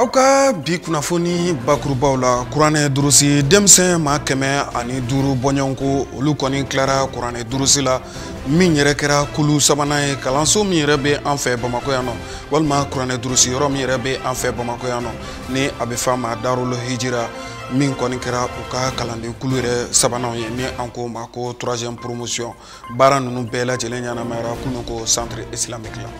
aw ka bi kunnafoni bakurubaw la kuranɛ durusi denmisɛn maa kɛmɛ ani duuru bɔɲɔgɔnko olu kɔni tilara kuranɛ durusi la min yɛrɛ kɛra kulu sabanan ye kalanso min yɛrɛ bɛ an fɛ bamakɔ yan nɔ walima kuranɛ durusi yɔrɔ min yɛrɛ bɛ an fɛ bamakɔ yan nɔ ni a bɛ f'a ma darul hijira min kɔni kɛra u ka kalanden kulu yɛrɛ sabanan ye ni an k'o ma ko troisième promotion baara ninnu bɛɛ lajɛlen ɲɛnamayara kunun ko centre islamique la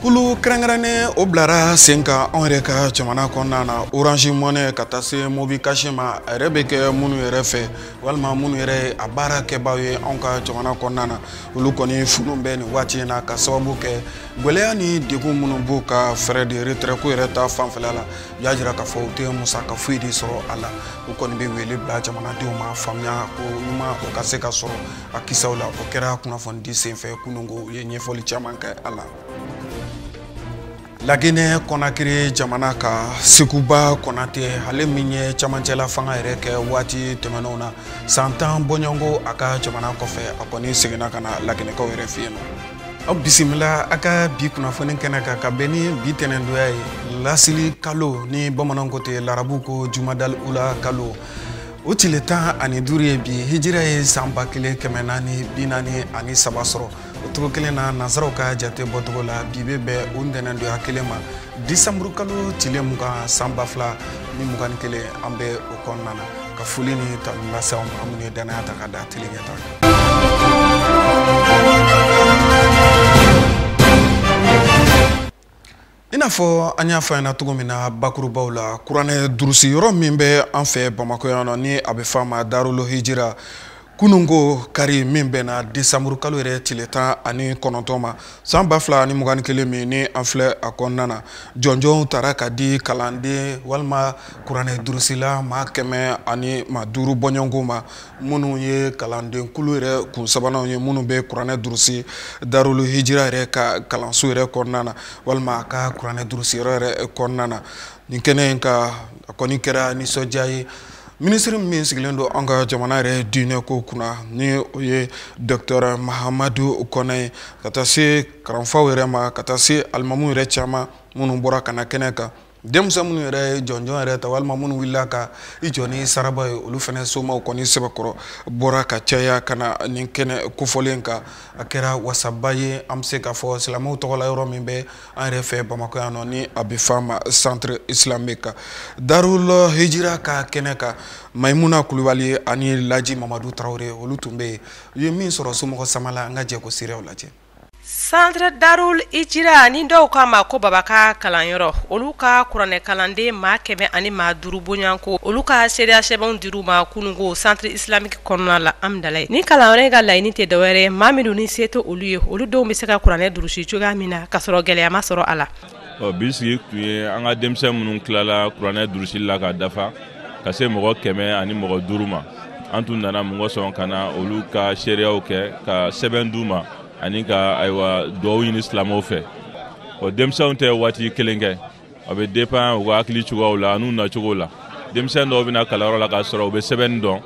kulu kɛrɛnkɛrɛnnen o bilara sen kan anw yɛrɛ ka jamana kɔnɔna na orange money ka taa se mobi cash ma a yɛrɛ bɛ kɛ minnu yɛrɛ fɛ walima minnu yɛrɛ ye a baara kɛbaaw ye anw ka jamana kɔnɔna na olu kɔni funu bɛ nin waati in na ka sababu kɛ gwɛlɛya ni degun minnu b'u ka frais de retrait ko yɛrɛ ta fanfɛla la u y'a jira k'a fɔ u tɛ musaka foyi de sɔrɔ a la u kɔni bɛ wele bila jamanadenw ma faamuya ko ɲuman o ka se ka sɔrɔ a kisaw la o kɛra kunnafonidi senfɛ kunun ko u ye ɲɛfɔli caman kɛ a la laginɛ kɔnakiri jamana ka sekuba konate ale min ye camancɛla fanga yɛrɛ kɛ waati tɛmɛnenw na san tan bɔɲɔgɔnko a ka jamana kɔfɛ a kɔni seginna ka na laginɛkaw yɛrɛ fɛ yen nɔ aw bisimila a ka bi kunnafoni kɛnɛ kan ka bɛn ni bi tɛnɛndonya ye lasili kalo ni bamananw ko ten larabu ko jumadal ula kalo o tile tan ani duuru ye bi hijira ye san ba kelen kɛmɛ naani bi naani ani saba sɔrɔ o cogo kelen na nansaraw ka jate bɔcogo la bi bɛ bɛn o ntɛnɛndonya kelen ma disanburu kalo tile mugan san ba fila ni mugan ni kelen an bɛ o kɔnɔna na ka foli ni tanu lase aw ma aw minnu ye danaya ta ka da tele ɲɛta i n'a fɔ an y'a fɔ ɲɛna cogo min na bakurubaw la kuranɛ durusi yɔrɔ min bɛ an fɛ bamakɔ yan nɔ ni a bɛ fɔ a ma darul hijira kunun ko kari min bɛnna desanburu kalo yɛrɛ tile tan ani kɔnɔntɔn ma san ba fila ani mugan ni kelen min ni an filɛ a kɔnɔna na jɔnjɔnw tara ka di kalanden walima kuranɛ durusila maa kɛmɛ ani maa duuru bɔɲɔgɔnko ma minnu ye kalandenkulu yɛrɛ kun sabananw ye minnu bɛ kuranɛ durusi darul hijira yɛrɛ ka kalanso yɛrɛ kɔnɔna na walima a ka kuranɛ durusi yɔrɔ yɛrɛ kɔnɔna na nin kɛnɛ in kan a kɔni kɛra nisɔndiya ye minisiri min sigilen don an ka jamana yɛrɛ diinɛ ko kunna ni o ye dɔktɛr mahamadu kɔnɛ ye ka taa se karamɔgɔw yɛrɛ ma ka taa se alimamu yɛrɛ caman minnu bɔra ka na kɛnɛ kan denmisɛn minnu yɛrɛ ye jɔnjɔn yɛrɛ ta walima minnu wulila ka i jɔ ni saraba ye olu fana somaw kɔni sɛbɛkɔrɔ bɔra ka caya ka na nin kɛnɛ kofɔlen kan a kɛra wasaba ye an bɛ se k'a fɔ silamɛw tɔgɔ la yɔrɔ min bɛ an yɛrɛ fɛ bamakɔ yan nɔ ni a bɛ f'a ma centre islamique kan darul hijira ka kɛnɛ kan mayimuna kulubali ani laji mamadu tarawele olu tun bɛ yen u ye min sɔrɔ somɔgɔ sama la an ka jɛ k'o seerew lajɛ Centre Darul Hijra ni dɔw k'a ma ko Baba ka kalanyɔrɔ olu ka kuranɛ kalanden maa kɛmɛ ani maa duuru bɔɲɔgɔnko olu ka seereya sɛbɛnw dir'u ma kununko centre islamique kɔnɔna la Amdalayi nin kalanyɔrɔ in ka laɲini tɛ dɔwɛrɛ maa minnu ni se tɛ olu ye olu denw bɛ se ka kuranɛ durusi cogoya min na ka sɔrɔ gɛlɛya ma sɔrɔ a la ɔ bi sigi tun ye an ka denmisɛn minnu tilala kuranɛ durusili la k'a dafa ka se mɔgɔ kɛmɛ ani mɔgɔ duuru ma an tun nana mun kosɔn ka na olu ka seereyaw kɛ ka sɛbɛn d'u ma ani ka ayiwa duwawu ɲini silamɛw fɛ ɔ denmisɛnw tɛ waati kelen kɛ a bɛ dépend u ka hakili cogoyaw la an'u nacogo la denmisɛn dɔw bɛ na kalanyɔrɔ la k'a sɔrɔ u bɛ sɛbɛnni dɔn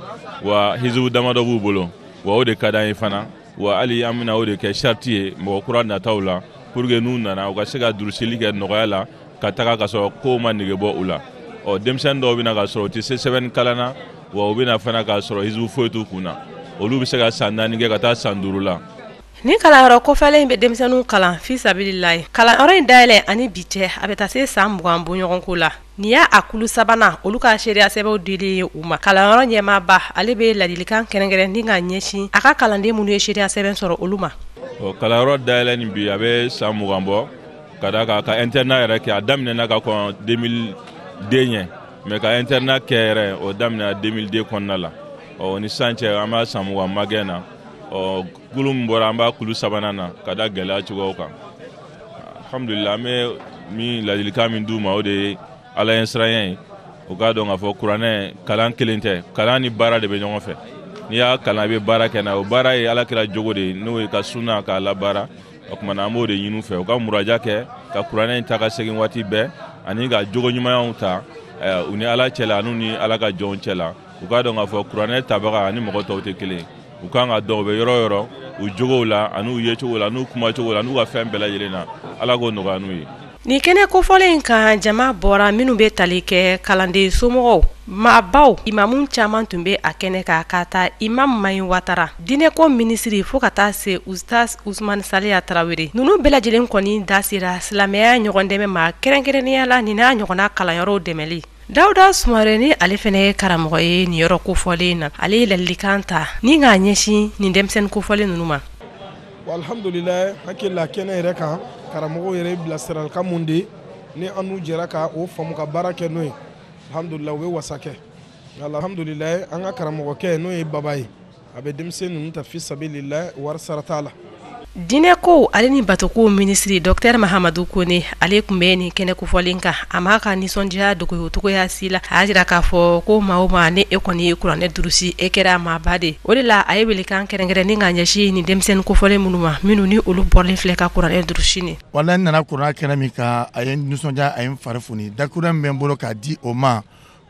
wa hizibu damadɔ b'u bolo wa o de ka d'an ye fana Wa hali an bɛna o de kɛ sariti ye mɔgɔ kura nataw la pour que n'u nana u ka se ka durusili kɛ nɔgɔya la ka taga ka sɔrɔ kow ma nege bɔ u la ɔ denmisɛnnin dɔw bɛ na k'a sɔrɔ u tɛ se sɛbɛnni kalan na wa u bɛ na fana k'a sɔrɔ hizibu foyi t'u kun na olu bɛ se ka san naani kɛ ka taa san duuru la nin kalanyɔrɔ kofɔlen in bɛ denmisɛnninw kalan fisabililayi kalanyɔrɔ in dayɛlɛ ani bi cɛ a bɛ taa se san mugan bɔɲɔgɔnko la Nin y'a kulu sabanan olu ka seereya sɛbɛnw dilen ye u ma kalanyɔrɔ ɲɛmaaba ale bɛ ladilikan kɛrɛnkɛrɛn ni k'a ɲɛsin a ka kalanden minnu ye seereya sɛbɛn sɔrɔ olu ma o kalanyɔrɔ dayɛlɛ ni bi a bɛ san mugan bɔ ka da ka ka internat yɛrɛ kɛ a daminɛna ka kɔn 2002 ɲɛ mais ka internat kɛ yɛrɛ o daminɛna 2002 kɔnɔna la ɔ o ni san cɛ an b'a san mugan magɛn na ɔ kulu min bɔra an b'a kulu sabanan na ka da gɛlɛya cogoyaw kan alhamdulila an bɛ min ladilikan min d'u ma o de ye ala ɲɛsiranya ye u k'a dɔn k'a fɔ kuranɛ kalan kelen tɛ kalan ni baara de bɛ ɲɔgɔn fɛ n'i y'a kalan i bɛ baara kɛ n'a o baara ye ala kira jogo de ye n'o ye ka sunna k'a labaara o tuma na an b'o de ɲini u fɛ u ka muraja kɛ ka kuranɛ in ta ka segin waati bɛɛ ani ka jogo ɲumanyaw ta eh, u ni ala cɛla an'u ni ala ka jɔnw cɛla u k'a dɔn k'a fɔ kuranɛ tabaga ani mɔgɔ tɔw tɛ kelen ye u kan ka dɔn u bɛ yɔrɔ o yɔrɔ u jogow la an'u yecogo la n'u kumacogo la n'u ka fɛn bɛɛ lajɛlen na ala k'o nɔgɔya n'u ye nin kɛnɛ kofɔlen in kan jama bɔra minnu bɛ tali kɛ kalanden somɔgɔw maabaw imamu caman tun bɛ a kɛnɛ kan k'a ta imamu Mahi Watara diinɛko minisiri fo ka taa se Ustaz Usman Saliya Tarawele ninnu bɛɛ lajɛlen kɔni da sera silamɛya ɲɔgɔn dɛmɛ ma kɛrɛnkɛrɛnnenya la nin n'a ɲɔgɔnna kalanyɔrɔw dɛmɛli Dawuda Sumare ni ale fɛnɛ ye karamɔgɔ ye nin yɔrɔ kofɔlen in na, ale ye ladilikan ta ni k'a ɲɛsin nin denmisɛnnin kofɔlen ninnu ma. Bon alhamdulilayi n hakili la kɛnɛ yɛrɛ kan karamɔgɔw yɛrɛ ye bilasiralikan minnu di ni an n'u jɛra ka o faamu ka baara kɛ n'o ye alhamdulilayi o bɛ wasa kɛ alhamdulilayi an ka karamɔgɔkɛ n'o ye Baba ye a bɛ denmisɛn ninnu ta fi sabilillah wari sara t'a la diinɛko ale ni batoko minisiri dɔtɛri mahamadu kone ale tun bɛ nin kɛnɛ kofɔlen kan a m'a ka nisɔndiyaya dogo o cogoya si la a y'a jira k'a fɔ ko maa o maa ni e kɔni ye kuranɛ durusi e kɛra maaba de o de la a ye welekan kɛrɛnkɛrɛnnen k'a ɲɛsin nin denmisɛnnin kofɔlen minnu ma minnu ni olu bɔlen filɛ ka kuranɛ durusi nin wala ne nana kuranɛ kɛnɛ min kan a ye n nisɔndiya a ye n fari foni dakuruɲɛ min bɛ n bolo k'a di o ma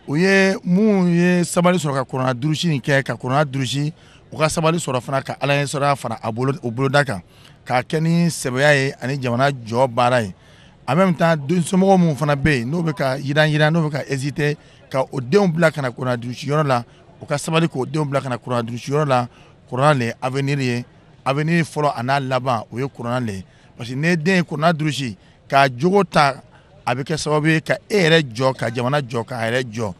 o ye min ye sabali sɔrɔ ka kuranɛ durusi in kɛ ka kuranɛ durusi u ka sabali sɔrɔ fana ka ala ɲɛsiranya fara o boloda kan k'a kɛ ni sɛbɛya ye ani jamana jɔ baara ye en même temps densomɔgɔ minnu fana bɛ yen n'o bɛ ka yiranyiran n'o bɛ ka hésiter ka o denw bila ka na kuranɛ durusi yɔrɔ la u ka sabali k'o denw bila ka na kuranɛ durusi yɔrɔ la kuranɛ le ye avenir ye avenir fɔlɔ a n'a laban o ye kuranɛ le ye Parce que n'e den ye kuranɛ durusi k'a jogo ta a bɛ kɛ sababu ye ka e yɛrɛ jɔ ka jamana jɔ k'a yɛrɛ jɔ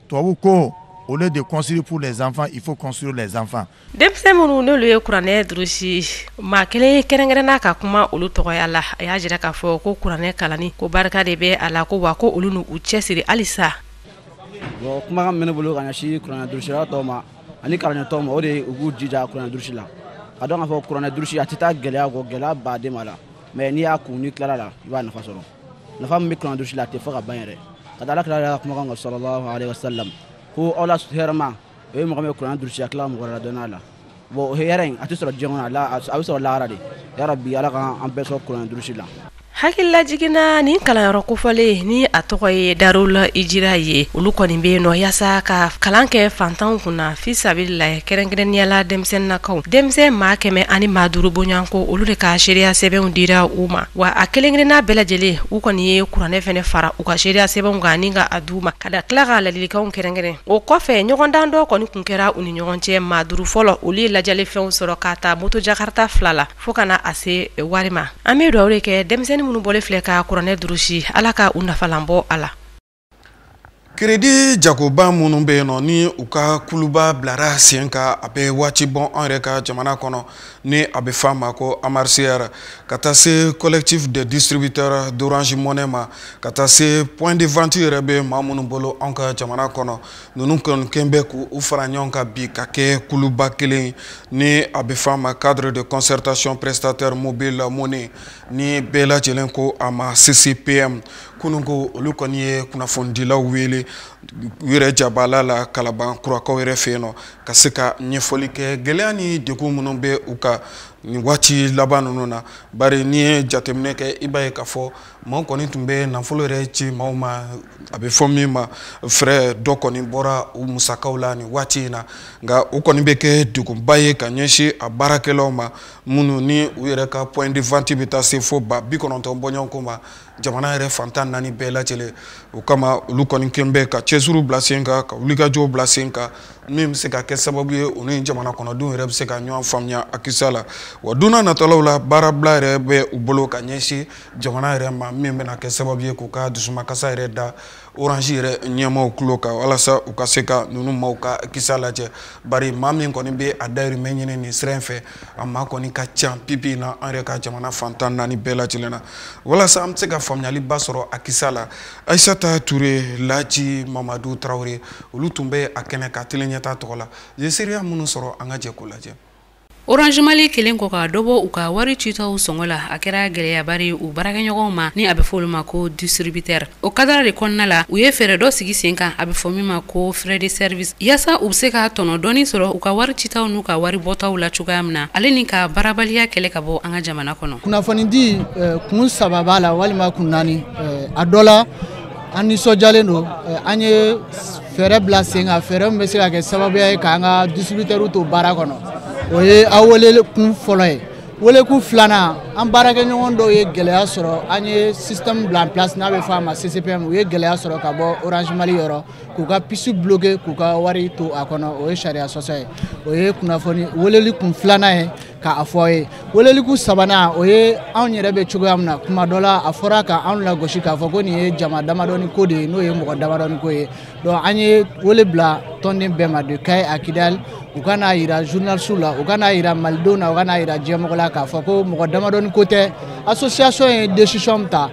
tubabu ko au lieu de construire pour les enfants il faut construire les enfants denmisɛn minnu n'olu ye kuranɛ durusi maa kelen kɛrɛnkɛrɛnna ka kuma olu tɔgɔya la a y'a jira k'a fɔ ko kuranɛ kalanni ko barika de bɛ a la ko wa ko olu n'u cɛsiri halisa kumakan min bɛ n bolo ka ɲɛsin kuranɛ durusila tɔw ma ani kalanɲɔgɔn tɔw ma o de u k'u jija kuranɛ durusi la k'a dɔn k'a fɔ kuranɛ durusi a tɛ taa gɛlɛya kɔ gɛlɛyaba de b'a la mais n'i y'a kun n'i tilara la i b'a nafa sɔrɔ nafa min bɛ kuranɛ durusi la a tɛ fɔ ka ban yɛrɛ ka da ala kira yɛrɛ ka kumakan kan sallallahu alaihi wasallam ko aw la hɛrɛma o ye mɔgɔ min ye kuranɛ durusi a tila mɔgɔ wɛrɛ ladɔnniya la bon o hɛrɛ in a tɛ sɔrɔ diɲɛ kɔnɔ a bɛ sɔrɔ lahara de ya rabi ala k'an bɛɛ sɔrɔ kuranɛ durusi la Hakililajigin na nin kalanyɔrɔ kofɔlen ni a tɔgɔ ye darul hijira ye olu kɔni bɛ yen nɔ yaasa ka kalan kɛ fantanw kunna fi sabilillahi kɛrɛnkɛrɛnnenya la denmisɛnninkaw denmisɛn maa kɛmɛ ani maa duuru bɔɲɔgɔnko olu de ka seereya sɛbɛnw dira u ma wa a kelen-kelenna bɛɛ lajɛlen u kɔni ye kuranɛ fana fara u ka seereya sɛbɛnw kan ani k'a d'u ma ka da tila ka ladilikanw kɛrɛnkɛrɛn o kɔfɛ ɲɔgɔndan dɔ kɔni tun kɛra u ni ɲɔgɔn cɛ maa duuru fɔlɔ olu ye ladiyalifɛnw sɔrɔ k'a ta moto jakarata fila la fo ka na se wari ma an bɛ dugawu de kɛ denmisɛnnin minnu bɔlen filɛ ka kuranɛ durusi ala ka u nafalan bɔ a la kiredi jagoba minnu bɛ yen nɔ ni u ka kuluba bilara sen kan a bɛ waati bɔ an yɛrɛ ka jamana kɔnɔ ni a bɛ f'a ma ko amarcr ka taa se collectif des distributeurs d'orange money ma ka taa se point de vente yɛrɛ bɛ maa minnu bolo an ka jamana kɔnɔ ninnu kɔni kɛn bɛ k'u fara ɲɔgɔn kan bi ka kɛ kuluba kelen ni a bɛ f'a ma cadre de concertation prestataire mobile money ni bɛɛ lajɛlen ko a ma ccpm kunun ko olu kɔni ye kunnafonidilaw wele u yɛrɛ jabala la kalaban kurakaw yɛrɛ fɛ yen nɔ ka se ka ɲɛfɔli kɛ gɛlɛya ni degun minnu bɛ u kan nin waati laban ninnu na bari n'i ye jateminɛ kɛ i b'a ye k'a fɔ maaw kɔni tun bɛ nafolo yɛrɛ ci maaw ma a bɛ fɔ min ma frais dɔ kɔni bɔra u musakaw la nin waati in na nka o kɔni bɛ kɛ degunba ye ka ɲɛsin a baarakɛlaw ma minnu ni u yɛrɛ ka point de vente bɛ taa se fo ba bi kɔnɔntɔn bɔɲɔgɔnko ma jamana yɛrɛ fan tan ni naani bɛɛ lajɛlen o kama olu kɔni kɛn bɛ ka cɛsiriw bila sen kan ka wulikajɔw bila sen kan min bɛ se ka kɛ sababu ye u ni jamana kɔnɔdenw yɛrɛ bɛ se ka ɲɔgɔn faamuya a kisa la wa don nataw la baarabila yɛrɛ bɛ u bolo ka ɲɛsin jamana yɛrɛ ma min bɛna kɛ sababu ye k'u ka dusumakasa yɛrɛ da Orange yɛrɛ ɲɛmaaw tulo kan walasa u ka se ka ninnu maaw ka kisa lajɛ bari maa min kɔni bɛ a dayirimɛ ɲini nin sira in fɛ a maa kɔni ka ca bi bi in na an yɛrɛ ka jamana fan tan ni naani bɛɛ lajɛlen na walasa an bɛ se ka faamuyaliba sɔrɔ a kisa la ayisata ture laji mamadu tarawele olu tun bɛ a kɛnɛ kan tele ɲɛtaa tɔgɔ la ye seereya minnu sɔrɔ an ka jɛ k'o lajɛ Orange Mali kɛlen kɔ ka dɔ bɔ u ka wari citaw sɔngɔ la a kɛra gɛlɛyaba di u baarakɛɲɔgɔnw ma ni a bɛ fɔ olu ma ko distributeur o kadara de kɔnɔna la u ye fɛɛrɛ dɔ sigi sen kan a bɛ fɔ min ma ko frais de service yaasa u bɛ se ka tɔnɔ dɔɔni sɔrɔ u ka wari citaw n'u ka wari bɔtaw la cogoya min na ale ni ka baarabaliya kɛlɛ ka bɔ an ka jamana kɔnɔ kunnafonidi eh, kun saba b'a la walima kun naani eh, a dɔ la an nisɔndiyalen don eh, an ye fɛɛrɛ bila sen kan fɛɛrɛ min bɛ se ka kɛ sababuya ye k'an ka distributeurw to baara kɔnɔ o ye aw welekun fɔlɔ ye welekun filanan an baarakɛɲɔgɔn dɔw ye gɛlɛya sɔrɔ an ye système bila en place n'a bɛ fɔ a ma CCPM u ye gɛlɛya sɔrɔ ka bɔ Orange Mali yɔrɔ k'u ka puce bloquer k'u ka wari to a kɔnɔ o ye sariya sɔsɔ ye o ye kunnafoni weleli kun filanan ye K'a fɔ a ye welelikun sabanan o ye anw yɛrɛ bɛ cogoya min na kuma dɔ la a fɔra ka anw lagosi k'a fɔ ko nin ye jama damadɔni ko de ye n'o ye mɔgɔ damadɔni ko ye donc an ye wele bila tɔnden bɛɛ ma de Kayi à Kidali u ka n'a yira journalistes la u ka n'a yira malidenw na u ka n'a yira diɲɛmɔgɔ la k'a fɔ ko mɔgɔ damadɔni ko tɛ association ye décision min ta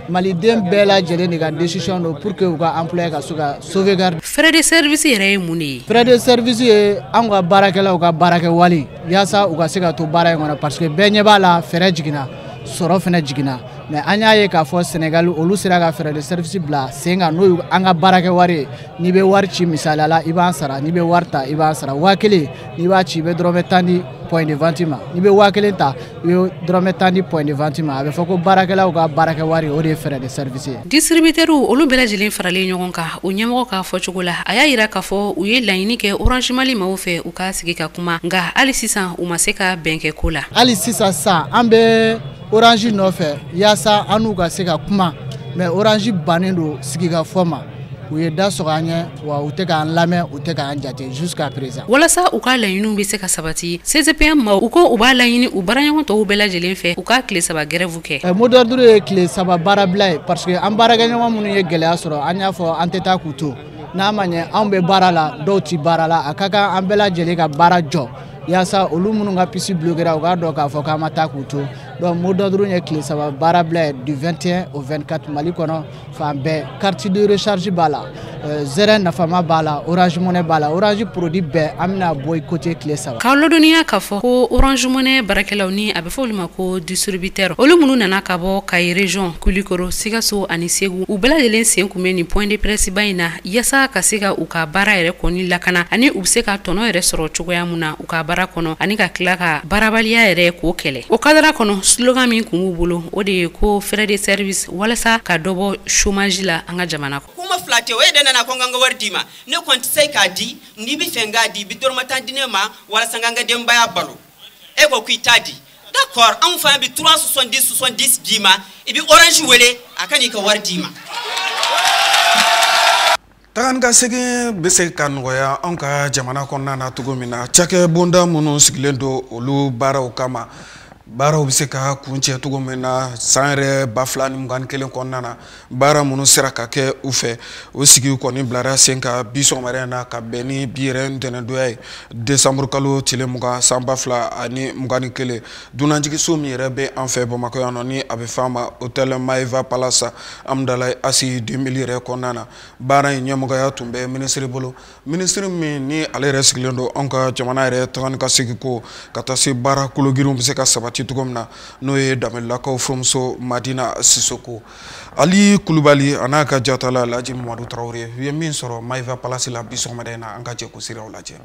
maliden bɛɛ lajɛlen de ka décision don pour que u ka employé ka se ka sauvegarder frais de service yɛrɛ ye mun de ye frais de service ye anw ka baarakɛlaw ka baarakɛ wari yaasa u ka se ka to baara in kɔnɔ parce que bɛɛ ɲɛ b'a la frais jiginna sɔrɔ fɛnɛ jiginna mais an y'a ye k'a fɔ sɛnɛgali olu sera ka frais de service bila sen kan n'o ye an ka baarakɛ wari ye n'i bɛ wari ci misaliya la i b'an sara n'i bɛ wari ta i b'an sara waa kelen n'i b'a ci i bɛ dɔrɔmɛ tan di point de vente ma n'i bɛ waa kelen ta i bɛ dɔrɔmɛ tan di point de vente ma a bɛ fɔ ko baarakɛlaw ka baarakɛ wari o de ye frais de service ye distributeurw olu bɛɛ lajɛlen faralen ɲɔgɔn kan o ɲɛmɔgɔ k'a fɔ cogo la a y'a yira k'a fɔ u ye laɲini kɛ Orange Mali maaw fɛ u ka sigi ka kuma nka hali sisan u ma se ka bɛn kɛ ko la hali sisan sisan an bɛ orange nɔfɛ yaasa an n'u ka se ka kuma mais orange bannen don sigikafɔ ma u ye da sɔgɔ an ɲɛ wa u tɛ k'an lamɛn u tɛ k'an jate jusqu'à présent walasa u ka laɲiniw bɛ se ka sabati CCPM maaw ko u b'a laɲini u baaraɲɔgɔn tɔw bɛɛ lajɛlen fɛ u ka tile saba grève kɛ eh, mot d'ordre ye tile saba baarabila ye parce que an baarakɛɲɔgɔn minnu ye gɛlɛya sɔrɔ an y'a fɔ an tɛ taa k'u to n'a ma ɲɛ anw bɛ baara la dɔw tɛ baara la a ka kan an bɛɛ lajɛlen ka baara jɔ yaasa olu minnu ka puce bloquera u k'a dɔn k'a fɔ k'an ma taa k'u to donc mot d'ordre ye tile saba baarabila ye du 21 au 24 mali kɔnɔ fan bɛɛ carte de recharge b'a la euh, zɛrɛ nafama b'a la orange money b'a la orange produit bɛɛ an bɛna boycotter tile saba k'aw ladɔnniya k'a fɔ ko orange money baarakɛlaw ni a bɛ fɔ olu ma ko distributeur olu minnu nana ka bɔ kayi région kulikoro sikaso ani segu u bɛɛ lajɛlen sen kun bɛ nin point de presse ba in na yaasa ka se ka u ka baara yɛrɛ kɔni lakana ani u bɛ se ka tɔnɔ yɛrɛ sɔrɔ cogoya min na u ka baara kɔnɔ ani ka tila ka baarabaliya yɛrɛ k'o kɛlɛ o kadara kɔnɔ slogan min kun b'u bolo o de ye ko frais de service walasa ka dɔ bɔ chômage la an ka jamana kɔnɔ kuma fila tɛ o ye de nana ko n ka n ka wari d'i ma ne kɔni tɛ se k'a di n'i b'a fɛ n k'a di i bɛ dɔrɔmɛ tan di ne ma walasa n ka n ka denbaya balo e ko k'i t'a di d'accord anw fana bi 370 70 d'i ma i bɛ orange wele a ka n'i ka wari d'i ma tagan ka segin bɛ se ka nɔgɔya anw ka jamana kɔnɔna na cogo min na cakɛ bonda minnu sigilen don olu baaraw kama baaraw bɛ se ka kuncɛ cogo min na san yɛrɛ ba fila ni mugan ni kelen kɔnɔna na baara minnu sera ka kɛ u fɛ o sigi kɔni bilara sen kan bi sɔgɔmada na ka bɛn ni bi yɛrɛ ntɛnɛndonya ye desanburu kalo tile mugan san ba fila ani mugan ni kelen dunanjiginso min yɛrɛ bɛ an fɛ bamakɔ yan nɔ ni a bɛ f'a ma hôtel maiva palace hamdallaye ACI 2000 yɛrɛ kɔnɔna na baara in ɲɛmɔgɔya tun bɛ minisiri bolo minisiri min ni ale yɛrɛ sigilen don an ka jamana yɛrɛ tagan ka segin ko ka taa se baara kologirinw bɛ se ka sabati cogo min na n'o ye danbɛlɛlakaw furumuso madina sisoko ali kulubali a n'a ka jatala laji mamadu tarawele u ye min sɔrɔ maiva palasi la bi sɔgɔmada in na an ka jɛ k'o siraw lajɛ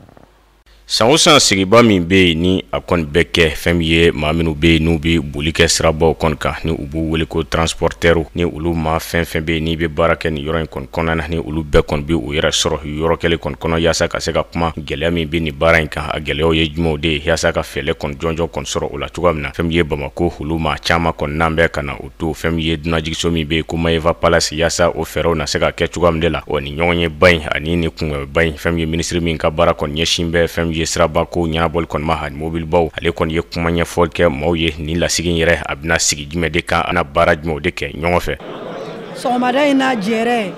san o san sigiba min bɛ yen ni a kɔni bɛ kɛ fɛn min ye maa minnu bɛ yen n'u bɛ boli kɛ sirabaw kɔni kan ni u b'u wele ko transportɛriw ni olu maa fɛn fɛn bɛ yen n'i bɛ baara kɛ nin yɔrɔ in kɔni kɔnɔna na ni olu bɛɛ kɔni bɛ u yɛrɛ sɔrɔ yɔrɔ kelen kɔni kɔnɔ yaasa ka se ka kuma gɛlɛya min bɛ nin baara in kan a gɛlɛyaw ye jumɛnw de ye yaasa ka fɛɛlɛ kɔni jɔnjɔn kɔni sɔrɔ o la cogoya min na fɛn min ye bamako olu maa caman kɔni n'an bɛ ka na o to fɛn min ye dunanjigiso min bɛ yen ko maeva palasi yaasa o fɛɛrɛw na se ka kɛ cogoya min de la o ni ɲɔgɔnyeba in ani ni kunbɛnba in fɛn min ye minisiri min ka baara kɔni ɲɛsin bɛ fɛn min ye siraba ko ɲɛnabɔli kɔni ma ani mobilibaw ale kɔni ye kuma ɲɛfɔli kɛ maaw ye ni lasigi in yɛrɛ a bɛna sigi jumɛn de kan a bɛna baara jumɛnw de kɛ ɲɔgɔn fɛ sɔgɔmada in na jɛrɛ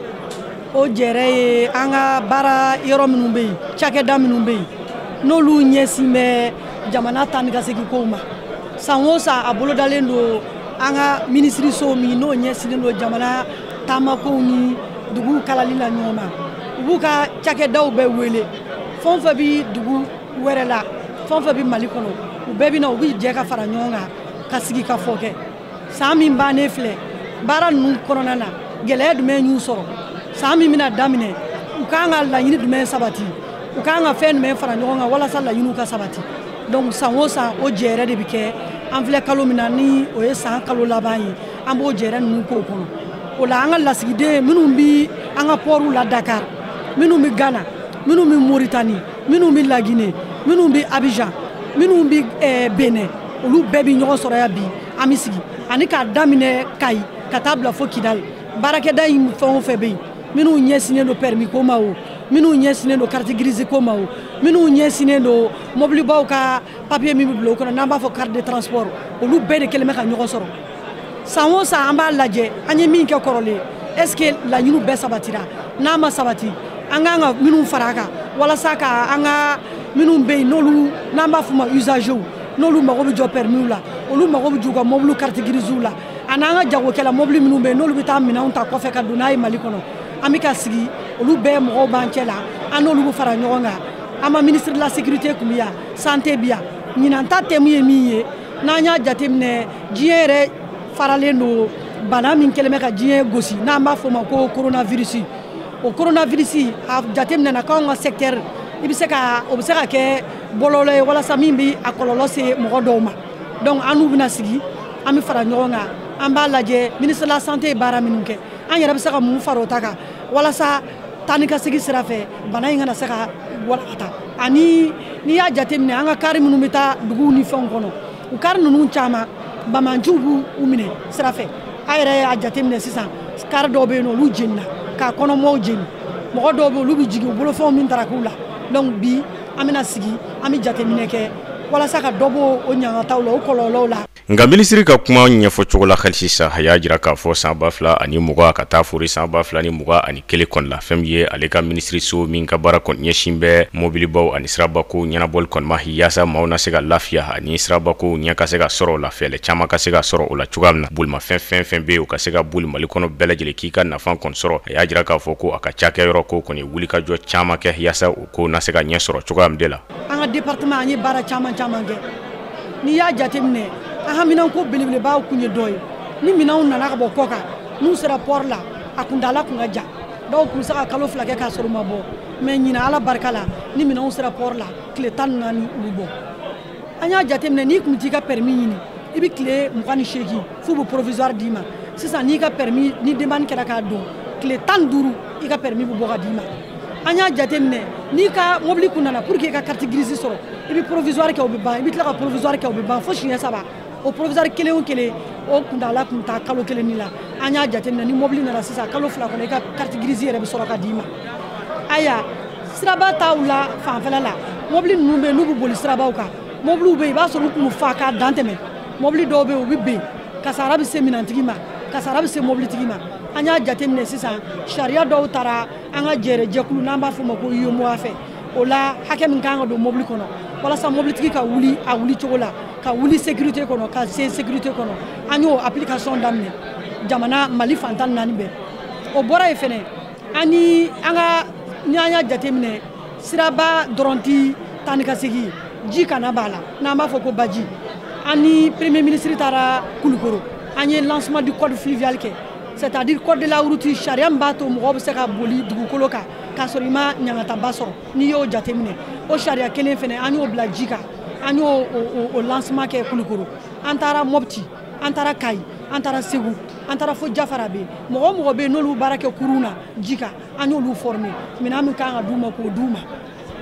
o jɛrɛ ye an ka baara yɔrɔ minnu bɛ yen cakɛda minnu bɛ yen n'olu ɲɛsin bɛ jamana taa ni ka segin kow ma san o san a bolodalen don an ka minisiriso min n'o ɲɛsinnen don jamana taamakow ni duguw kalali la ɲɔgɔn ma u b'u ka cakɛdaw bɛɛ wele fɛn o fɛn bɛ dugu wɛrɛ la fɛn o fɛn bɛ mali kɔnɔ u bɛɛ bɛ na u bɛ jɛ ka fara ɲɔgɔn kan ka sigi ka fɔ kɛ san min bannen filɛ baara ninnu kɔnɔna na gɛlɛya jumɛn y'u sɔrɔ san min bɛna daminɛ u kan ka laɲini jumɛn sabati u kan ka fɛn jumɛn fara ɲɔgɔn kan walasa laɲiniw ka sabati donc san o san o jɛɛrɛ de bɛ kɛ an filɛ kalo min na ni o ye san kalo laban ye an b'o jɛɛrɛ ninnu k'o kɔnɔ o la an ka lasigiden minnu bɛ an ka pɔriw la dakar minnu bɛ gana minnu bɛ moritani minnu bɛ laginɛ minnu bɛ abijan minnu bɛ eh, benɛn olu bɛɛ bɛ ɲɔgɔn sɔrɔ yan bi an bɛ sigi ani k'a daminɛ kayi ka taa bila fo kidali baarakɛda in fɛn o fɛn bɛ yen minnu ɲɛsinnen don pɛrimi ko ma o minnu ɲɛsinnen don kariti girizi ko ma o minnu ɲɛsinnen don mɔbilibaw ka papiye min bɛ bila o kɔnɔ n'an b'a fɔ carte de transport olu bɛɛ de kɛlen bɛ ka ɲɔgɔn sɔrɔ san o san an b'a lajɛ an ye min kɛ kɔrɔlen est ce que laɲiniw bɛɛ sabatira n'a ma sabati an kan ka minnu fara a kan walasa ka an ka minnu bɛ yen n'olu n'an b'a f'u ma usagew n'olu mago bɛ jɔ permiw la olu mago bɛ jɔ u ka mɔbiliw carte grisew la ani an ka jagokɛla mɔbili minnu bɛ yen n'olu bɛ taa minɛnw ta kɔfɛ ka don n'a ye mali kɔnɔ an bɛ ka sigi olu bɛɛ mɔgɔw b'an cɛ la an n'olu bɛ fara ɲɔgɔn kan an ma ministre de la sécurité kun bɛ yan santé bɛ yan ɲinan ta tɛmu ye min ye n'an y'a jateminɛ diɲɛ yɛrɛ faralen don bana min kɛlen bɛ ka diɲɛ gosi n'an b'a fɔ o ma ko coronavirus o coronavirus a jateminɛna k'anw ka secteur i bɛ se ka o bɛ se ka kɛ bɔlɔlɔ ye walasa min bɛ a kɔlɔlɔ se mɔgɔ dɔw ma donc an n'u bɛna sigi an bɛ fara ɲɔgɔn kan an b'a lajɛ ministre de la santé ye baara minnu kɛ an yɛrɛ bɛ se ka mun fara o ta kan walasa taa ni ka segin sira fɛ bana in kana se ka walankata ani n'i y'a jateminɛ an ka kari minnu bɛ taa duguw ni fɛnw kɔnɔ u kari ninnu caman banbaanciw b'u minɛ sira fɛ a yɛrɛ y'a jateminɛ sisan kari dɔw bɛ yen n'olu jenina k'a kɔnɔmɔɔw jeni mɔgɔ dɔw bɛ yen olu bɛ jigin u bolofɛnw bɛ taraki u la donc bi an bɛna sigi an bɛ jateminɛ kɛ walasa ka dɔ bɔ o ɲangataw la o kɔlɔlɔw la Nka minisiri ka kuma ɲɛfɔcogo la hali sisan a y'a jira k'a fɔ san ba fila ani mugan ka taa fori san ba fila ni mugan ani kelen kɔnɔna la fɛn min ye ale ka minisiriso min ka baara kɔni ɲɛsin bɛ mobilibaw ani sirabako ɲɛnabɔli kɔni ma yaasa maaw na se ka lafiya ani sirabako ɲɛ ka se ka sɔrɔ o la fɛɛlɛ caman ka se ka sɔrɔ o la cogoya min na bolimafɛn fɛn fɛn bɛ yen u ka se ka boli mali kɔnɔ bɛɛ lajɛlen k'i ka nafa kɔni sɔrɔ a y'a jira k'a fɔ ko a ka cakɛyɔrɔ ko kɔni ye wulikajɔ caman kɛ yaasa o kow na se ka ɲɛ sɔrɔ cogoya min de la an ka département an ye baara caman caman kɛ n'i y'a jateminɛ an haminanko belebelebaw kun ye dɔ ye ni minɛnw nana ka bɔ kɔkan n'u sera port la a kuntaala kun ka jan dɔw kun se ka kalo fila kɛ k'a sɔrɔ u ma bɔ mais ɲina ala barika la ni minɛnw sera port la tile tan ni naani u bɛ bɔ an y'a jateminɛ n'i kun t'i ka permis ɲini i bɛ tile mugan ni seegin f'u bɛ provisoire d'i ma sisan n'i ka permis ni demande kɛra k'a don tile tan ni duuru i ka permis bɛ bɔ ka d'i ma an y'a jate minɛ n'i ka mobili kun nana pour que i ka carte grise sɔrɔ i bɛ provisoire kɛ o bɛ ban i bɛ tila ka provisoire kɛ o bɛ ban fo siɲɛ saba o provisoire kelen o kelen o kuntaala kun ta kalo kelen ni la an y'a jate minɛ ni mobili nana sisan kalo fila kɔnɔ i ka carte grise yɛrɛ bɛ sɔrɔ ka d'i ma aya siraba taw la fanfɛla la mobili ninnu bɛ yen n'u bɛ boli sirabaw kan mobiliw bɛ yen i b'a sɔrɔ u kun fa k'a dan tɛmɛ mobili dɔw bɛ yen u bɛ ben kasara bɛ se minɛntigi ma kasara bɛ se mobilitigi ma an y'a jate minɛ sisan sariya dɔw taara an ka jɛrɛjɛkulu n'an b'a fɔ ma ko UEMOA fɛ o la hakɛ min kan ka don mobili kɔnɔ walasa mobilitigi ka wuli a wuli cogo la ka wuli sécurité kɔnɔ ka se sécurité kɔnɔ an y'o application daminɛ jamana mali fan tan naani bɛɛ o bɔra yen fɛnɛ an ni an ka ni an y'a jateminɛ siraba dɔrɔn tɛ taa ni ka segin jikanna b'a la n'an b'a fɔ ko baji an ni premier ministre taara kulukoro an ye lancement du code fluvial kɛ c'est à dire code de la route sariya min b'a to mɔgɔ bɛ se ka boli dugukolo kan k'a sɔrɔ i ma ɲangataba sɔrɔ n'i y'o jateminɛ o sariya kelen fɛnɛ an y'o bila ji kan an y'o o lancement kɛ kulukoro an taara mɔpti an taara kayi an taara segu an taara fo jafarabɛ mɔgɔ o mɔgɔ bɛ yen n'olu baara kɛ kurun na ji kan an y'olu former minɛn min kan ka d'u ma k'o d'u ma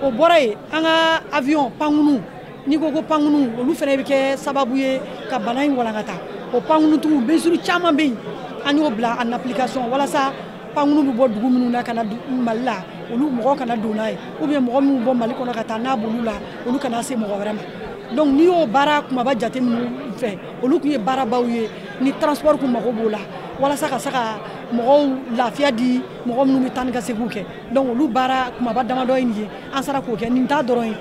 o bɔra yen an ka avion pankunu n'i ko ko pankunu olu fɛnɛ bɛ kɛ sababu ye ka bana in walankata o pankunu tugu mesure caman bɛ yen an y'o bila en application walasa pankunu bɛ bɔ dugu minnu na ka na mali la olu mɔgɔ kana don n'a ye ou bien mɔgɔ minnu bɔ mali kɔnɔ ka taa n'a b'olu la olu kana se mɔgɔ wɛrɛ ma donc n'i y'o baara kunbaba jate minnu fɛ olu tun ye baarabaw ye ni transport kun mago b'o la walasa ka se ka mɔgɔw lafiya di mɔgɔ minnu bɛ taa ni ka seginw kɛ donc olu baara kunbaba damadɔ ye nin ye an sera k'o kɛ nin t'a dɔrɔn ye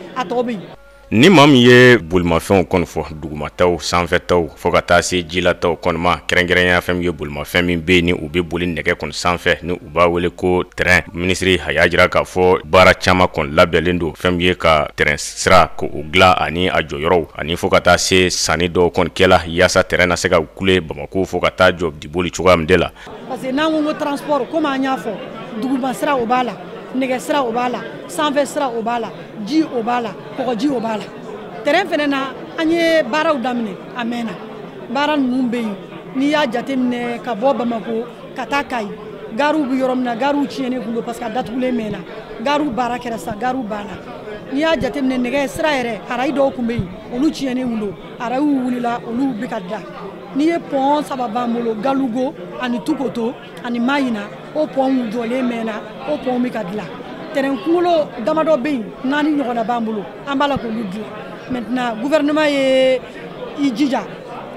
Ni maa min ye bolimafɛnw kɔni fɔ dugumataw sanfɛtaw fo ka taa se jilataw kɔni ma kɛrɛnkɛrɛnya fɛn min ye bolimafɛn min bɛ ni u bɛ boli nɛgɛ kɔni sanfɛ ni u b'a wele ko tɛrɛn minisiri a y'a jira k'a fɔ baara caman kɔni labɛnnen don fɛn min ye ka tɛrɛn sira k'o dilan ani a jɔyɔrɔw ani fo ka taa se sanni dɔw kɔni kɛla yaasa tɛrɛn na se ka kule bamakɔ fo ka taa jɔ diboli cogoya min de la parce que n'an ko ko transport komi an y'a fɔ duguma sira o b'a la nɛgɛ sira o b'a la sanfɛ sira o b'a la ji o b'a la kɔgɔji o b'a la tɛrɛn fɛnɛ na an ye baaraw daminɛ a mɛnna baara ninnu bɛ yen n'i y'a jateminɛ ka bɔ bamako ka taa kayi gariw bɛ yɔrɔ min na gariw tiɲɛnen kun don parce que a datugulen mɛnna gariw baara kɛra sisan gariw banna n'i y'a jateminɛ nɛgɛ sira yɛrɛ arayi dɔw kun bɛ yen olu tiɲɛnen kun don arayiw wulila olu bɛ ka dilan n'i ye pɔn saba b'an bolo galugo ani tukoto ani mayina o pɔnw jɔlen mɛnna o pɔnw bɛ ka dilan tɛrɛn kunkolo damadɔ bɛ yen naani ɲɔgɔnna b'an bolo an b'a la k'olu dilan maintenant gouvernement ye i jija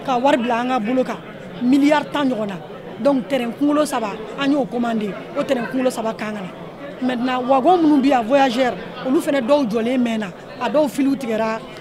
ka wari bila an ka bolo kan miliyari tan ɲɔgɔnna donc tɛrɛn kunkolo saba an y'o commandé o tɛrɛn kunkolo saba kan ka na maintenant wagon minnu bɛ yan voyageurs olu fana dɔw jɔlen mɛnna a dɔw filiw tigɛra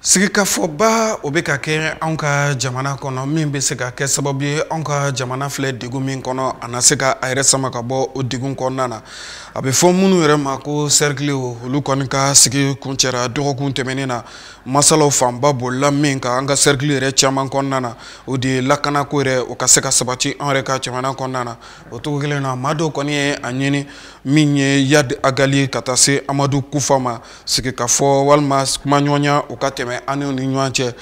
sigikafɔba o bɛ ka kɛ anw ka jamana kɔnɔ min bɛ se ka kɛ sababu ye anw ka jamana filɛ degun min kɔnɔ a na se ka a yɛrɛ sama ka bɔ o degun kɔnɔna na a bɛ fɔ minnu yɛrɛ ma ko cercle olu kɔni ka sigi kuncɛra dɔgɔkun tɛmɛnen na masalaw fanba bolila min kan an ka cercle yɛrɛ caman kɔnɔna na o de ye lakanako yɛrɛ o ka se ka sabati an yɛrɛ ka jamana kɔnɔna na o cogo kelen na maa dɔw kɔni ye a ɲini min ye Yadi Agali ka taa se Amadu Kufa ma sigikafɔ walima kuma ɲɔgɔnya u ka tɛmɛ an ni ɲɔgɔn cɛ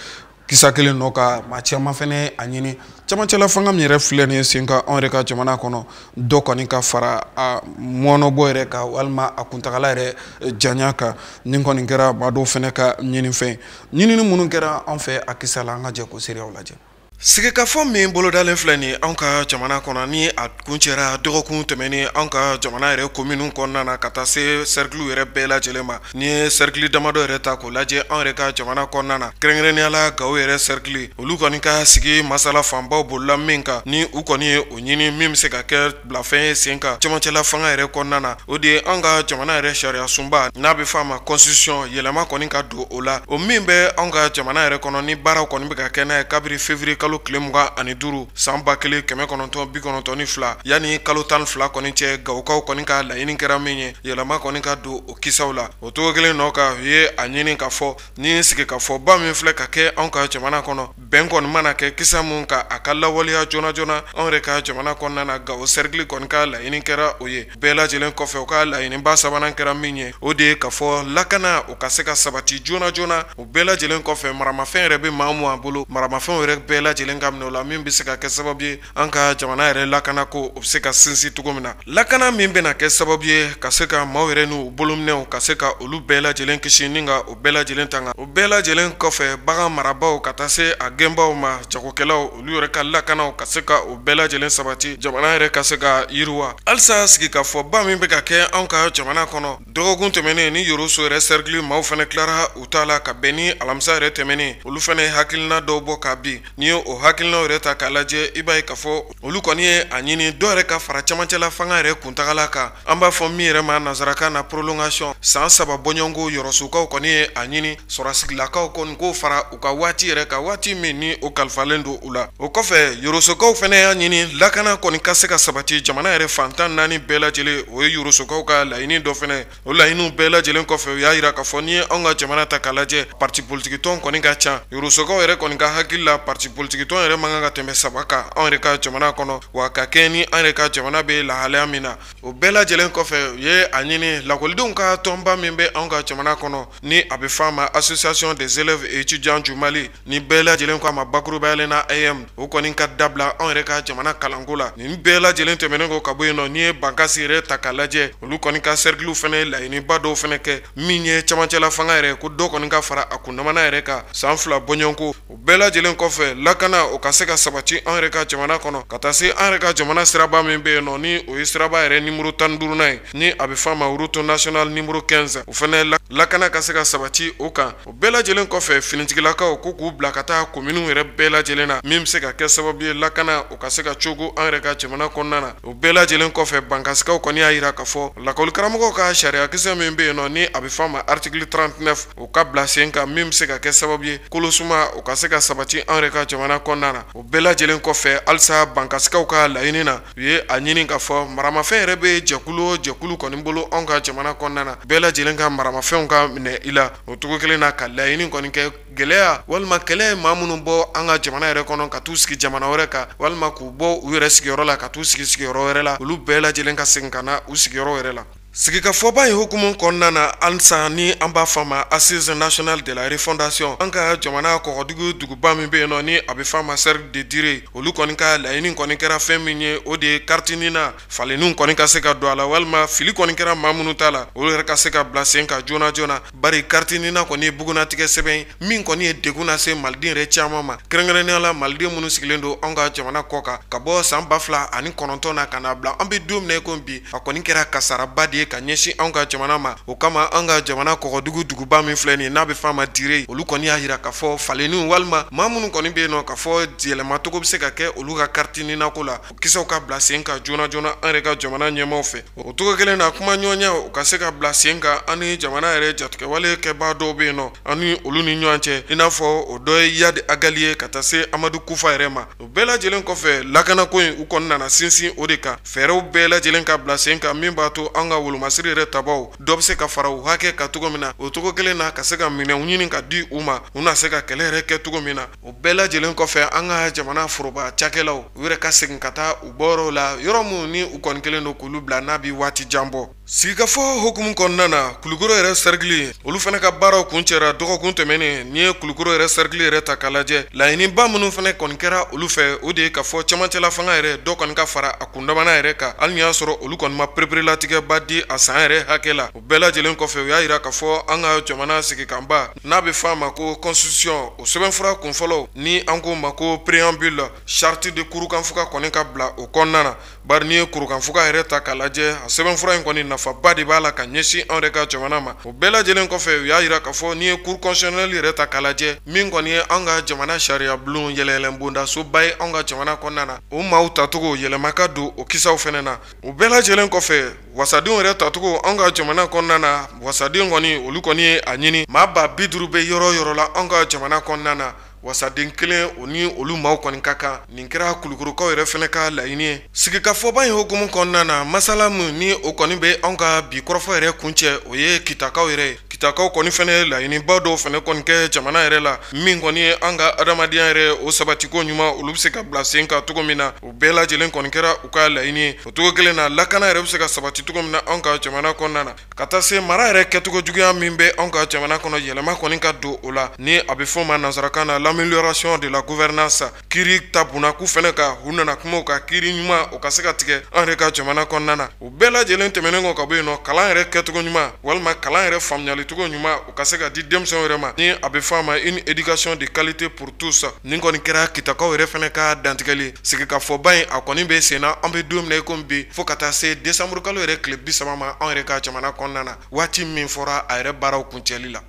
kisa kelen nɔ ka maa caman fɛnɛ a ɲini camancɛla fanga min yɛrɛ filɛ nin ye sen kan anw yɛrɛ ka jamana kɔnɔ dɔ kɔni ka fara a mɔnɔbɔ yɛrɛ kan walima a kuntagala yɛrɛ eh, janya kan nin kɔni kɛra maa dɔw fɛnɛ ka ɲinifɛn ye ɲinini minnu kɛra an fɛ a kisa la an ka jɛ k'o seereyaw lajɛ sigikafɔ min bolodalen filɛ nin anw ka jamana kɔnɔ ni a kuncɛra dɔgɔkun tɛmɛnen anw ka jamana yɛrɛ kominiw kɔnɔna na ka taa se sɛrikiliw yɛrɛ bɛɛ lajɛlen ma n'i ye sɛrikili damadɔ yɛrɛ ta k'o lajɛ anw yɛrɛ ka jamana kɔnɔna na kɛrɛnkɛrɛnnenya la gawo yɛrɛ sɛrikili olu kɔni ka sigi masala fanbaw bolila min kan ni u kɔni ye o ɲini min bɛ se ka kɛ bilafɛn ye sen kan camancɛla fanga yɛrɛ kɔnɔna na o de ye an ka jamana yɛrɛ sariya sunba n'a bɛ fɔ a ma constitution yɛlɛma kɔni ka don o la o min bɛ an ka jamana yɛrɛ kɔnɔ ni baaraw kɔni bɛ ka kɛ n'a ye kabiri février kalo tile mugan ani duuru san ba kelen kɛmɛ kɔnɔntɔn bi kɔnɔntɔn ni fila yanni kalo tan fila kɔni cɛ gawokaw kɔni ka laɲini kɛra min ye yɛlɛma kɔni ka don o kisaw la o cogo kelen nɔ ka u ye a ɲini k'a fɔ ni sigikafɔba min filɛ ka kɛ an ka jamana kɔnɔ bɛn kɔni mana kɛ kisa min kan a ka lawaleya joona joona anw yɛrɛ ka jamana kɔnɔna na Gawo cercle kɔni ka laɲini kɛra o ye, bɛɛ lajɛlen kɔfɛ u ka laɲiniba sabanan kɛra min ye, o de ye ka fɔ lakana o ka se ka sabati joona joona, o bɛɛ lajɛlen kɔfɛ maramafɛn yɛrɛ bɛ maa o maa bolo, maramafɛnw yɛrɛ bɛɛ lajɛlen ka minɛ u la min bɛ se ka kɛ sababu ye an ka jamana yɛrɛ lakana ko o bɛ se ka sinsin cogo min na lakana min bɛna kɛ sababu ye ka se ka maaw yɛrɛ n'u bolominɛw ka se ka olu bɛɛ lajɛlen kisi ni ka o bɛɛ lajɛlen tanga o bɛɛ lajɛlen kɔfɛ bagan marabaw ka taa se a gɛnbaw ma jagokɛlaw olu yɛrɛ ka lakanaw ka se ka o bɛɛ lajɛlen sabati jamana yɛrɛ ka se ka yiriwa halisa sigikafɔba min bɛ ka kɛ an ka jamana kɔnɔ dɔgɔkun tɛmɛnen ni yoroso yɛrɛ cercle maaw fɛnɛ tilara u ta la ka bɛn ni alamisa yɛrɛ tɛmɛnen olu fɛnɛ ye hakilina dɔw bɔ ka bin n'i ye o hakilinaw yɛrɛ ta k'a lajɛ i b'a ye ka fɔ olu kɔni ye a ɲini dɔ yɛrɛ ka fara camancɛla fanga yɛrɛ kuntagala kan an b'a fɔ min yɛrɛ ma nansarakan na prolongation san saba bɔɲɔgɔnko yorosokaw kɔni ye a ɲini sɔrɔdasilakaw kɔni k'o fara u ka waati yɛrɛ kan waati min ni o kalifalen don u la o kɔfɛ yorosokaw fɛnɛ y'a ɲini lakana kɔni ka se ka sabati jamana yɛrɛ fan tan naani bɛɛ lajɛlen o ye yorosokaw ka laɲini dɔ fɛnɛ o laɲiniw bɛɛ lajɛlen kɔfɛ u y'a yira k'a fɔ n'i ye anw ka jamana ta k'a lajɛ pati politikitɔn kɔni ka ca yorosokaw yɛrɛ kɔni ka hakili la pati politikitɔn yɛrɛ man kan ka tɛmɛ saba kan anw yɛrɛ ka jamana kɔnɔ wa ka kɛɲɛ ni an yɛrɛ ka jamana bɛ lahalaya min na o bɛɛ lajɛlen kɔfɛ u ye a ɲini lakɔlidenw ka tɔnba min bɛ anw ka jamana kɔnɔ ni a bɛ fɔ a ma association des élèves et étudiants du Mali ni bɛɛ lajɛlen k'a ma bakurubayalen na AEEM o kɔni ka dabila anw yɛrɛ ka jamana kalanko la nin bɛɛ lajɛlen tɛmɛnen kɔ ka bɔ yen nɔ n'i ye Bankasi yɛrɛ ta k'a lajɛ olu kɔni ka cercle fɛnɛ ye laɲiniba dɔw fɛnɛ kɛ min ye camancɛla fanga yɛrɛ ko dɔ kɔni ka fara a kundamana yɛrɛ kan san fila bɔɲɔgɔnko O bɛɛ lajɛlen kɔfɛ lakana o ka se ka sabati an yɛrɛ ka jamana kɔnɔ ka taa se an yɛrɛ ka jamana siraba min bɛ yen nɔ ni o ye siraba yɛrɛ nimɔrɔ tan duurunan ye ni a bɛ fɔ a ma route nationale numéro quinze o fɛnɛ lakana ka se ka sabati o kan o bɛɛ lajɛlen kɔfɛ finitigilakaw ko k'u bila ka taa kominiw yɛrɛ bɛɛ lajɛlen na min bɛ se ka kɛ sababu ye lakana o ka se ka cooko an yɛrɛ ka jamana kɔnɔna na o bɛɛ lajɛlen kɔfɛ bankasikaw kɔni y'a yira ka fɔ lakɔlikaramɔgɔw ka sariyakisɛ min bɛ yen nɔ ni a bɛ fɔ a ma article trente-neuf o ka bila sen kan min bɛ se ka kɛ sababu ye kolosuma o ka se ka sabati an yɛrɛ ka jamana kɔnɔna na o bɛɛ lajɛlen kɔfɛ halisa bankasikaw ka laɲini na u ye a ɲini ka fɔ maramafɛn yɛrɛ bɛ jɛkulu o jɛkulu kɔni bolo anw ka jamana kɔnɔna na bɛɛ lajɛlen ka maramafɛnw ka minɛ i la o cogo kelen na ka laɲini kɔni kɛ gɛlɛya walima kɛlɛ ye maa minnu bɔ an ka jamana yɛrɛ kɔnɔ ka taa u sigi jamana wɛrɛ kan walima k'u bɔ u yɛrɛ sigiyɔrɔ la ka taa u sigi sigiyɔrɔ wɛrɛ la olu bɛɛ lajɛlen ka segin ka na u sigiyɔrɔ yɛrɛ la Sigikafɔba in hukumu kɔnɔna na halisa ni an b'a fɔ a ma Assises nationales de la refondation an ka jamana kɔgɔdugu duguba min bɛ yen nɔ ni a bɛ fɔ a ma cercle de Diré olu kɔni ka laɲini kɔni kɛra fɛn min ye o de ye carte NINA falenniw kɔni ka se ka don a la walima fili kɔni kɛra maa minnu ta la olu yɛrɛ ka se ka bila sen kan joona joona Bari kariti nina kɔni ye bugunnatigɛ sɛbɛn min kɔni ye degun nase maliden yɛrɛ caman ma kɛrɛnkɛrɛnnenya la maliden minnu sigilen don an ka jamana kɔ kan ka bɔ san ba fila ani kɔnɔntɔn na ka n'a bila an bɛ don min na ko bi a kɔni kɛra kasaraba de ye ka ɲɛsin an ka jamana ma o kama an ka jamana kɔgɔdugu duguba min filɛ nin n'a bɛ fɔ a ma dire olu kɔni y'a jira k'a fɔ falenniw walima maa minnu kɔni bɛ yen nɔ ka fɔ yɛlɛmacogo bɛ se ka kɛ olu ka kariti ninako la kisaw ka bila sen kan joona joona an yɛrɛ ka jamana ɲɛmaaw fɛ o cogo kelen na kumaɲɔgɔnya o ka se ka bila sen kan an ni jamana yɛrɛ jatigɛwale kɛbaa dɔw bɛ yen nɔ an ni olu ni ɲɔgɔn cɛ i n'a fɔ o dɔ ye yadi agali ye ka taa se amadu kufa yɛrɛ ma o bɛɛ lajɛlen kɔfɛ lakanako in u kɔni nana sinsin o de kan fɛɛrɛw bɛɛ lajɛlen ka bila sen kan min b'a to an ka wolomasiri yɛrɛ tabaw dɔ bɛ se ka fara u hakɛ kan cogo min na o cogo kelen na ka se ka minɛnw ɲini ka di u ma u na se ka kɛlɛ yɛrɛ kɛ cogo min na o bɛɛ lajɛlen kɔfɛ an ka jamana foroba cakɛlaw u yɛrɛ ka segin ka taa u bɔyɔrɔw la yɔrɔ minnu ni u kɔni kelen don k'olu bila n'a bɛ waati jan bɔ sigikafɔ hukumu kɔnɔna na kulukoro yɛrɛ sarikili olu fana ka baaraw kuncɛra dɔgɔkun tɛmɛnen n'i ye kulukoro yɛrɛ sarikili yɛrɛ ta k'a lajɛ laɲiniba minnu fana kɔni kɛra olu fɛ o de ye ka fɔ camancɛla fanga yɛrɛ dɔ kɔni ka fara a kundamana yɛrɛ kan hali n'i y'a sɔrɔ olu kɔni ma pereperelatigɛba di a san yɛrɛ hakɛ la bɛɛ lajɛlen kɔfɛ u y'a jira ka fɔ an ka jamana sigikanba n'a bɛ fɔ a ma ko constitution o sɛbɛnfura kunfɔlɔ ni an ko ma ko préambule charte de kurukanfuga kɔni ka bila o kɔnɔna na bari n'i ye kurukanfuga yɛrɛ ta k'a lajɛ a sɛbɛnfura in kɔni nafaba de b'a la ka ɲɛsin anw yɛrɛ ka jamana ma o bɛɛ lajɛlen kɔfɛ u y'a jira ka fɔ n'i ye cour constitutionnelle yɛrɛ ta k'a lajɛ min kɔni ye an ka jamana sariya bulon yɛlɛyɛlɛn bondasoba ye anw ka jamana kɔnɔna na o maaw tacogo yɛlɛma ka don o kisaw fana na o bɛɛ lajɛlen kɔfɛ wasadenw yɛrɛ tacogo an ka jamana kɔnɔna na wasaden kɔni olu kɔni ye a ɲini maa ba bi duuru bɛ yɔrɔ o yɔrɔ la an ka jamana kɔnɔna na wasaden kelen o ni olu maaw kɔni ka kan nin kɛra kulukorokaw yɛrɛ fana ka laɲini ye sigikafɔba in hukumu kɔnɔna na masala min ni o kɔni bɛ an ka bi kɔrɔfɔ yɛrɛ kuncɛ o ye kitakaw yɛrɛ ye kitakaw kɔni fana laɲiniba dɔw fana kɔni kɛ jamana yɛrɛ la min kɔni ye an ka adamadenya yɛrɛ o sabatiko ɲuman olu bɛ se ka bila sen kan cogo min na bɛɛ lajɛlen kɔni kɛra u ka laɲini ye o cogo kelen na lakana yɛrɛ bɛ se ka sabati cogo min na anw ka jamana kɔnɔna na ka taa se mara yɛrɛ kɛcogo juguya min bɛ anw ka jamana kɔnɔ yɛlɛma kɔni ka don o la ni a bɛ fɔ ma nansarakan na l'amélioration de la gouvernance kiiri ta bunnako fana kan u nana kuma o kan kiiri ɲuman o ka se ka tigɛ an yɛrɛ ka jamana kɔnɔna na o bɛɛ lajɛlen tɛmɛnen kɔ ka bɔ yen nɔ kalan yɛrɛ kɛcogo ɲuman walima kalan yɛrɛ faamuyali cogo ɲuman o ka se ka di denmisɛnw yɛrɛ ma ni a bɛ fɔ a ma une éducation de qualité pour tous nin kɔni kɛra kitakaw yɛrɛ fana ka dantigɛli sigikafɔba in a kɔni bɛ senna an bɛ don min na i komi bi fo ka taa se desanburukalo yɛrɛ tile bi saba ma anw yɛrɛ ka jamana kɔnɔna na waati min fɔra a yɛrɛ baaraw kuncɛli la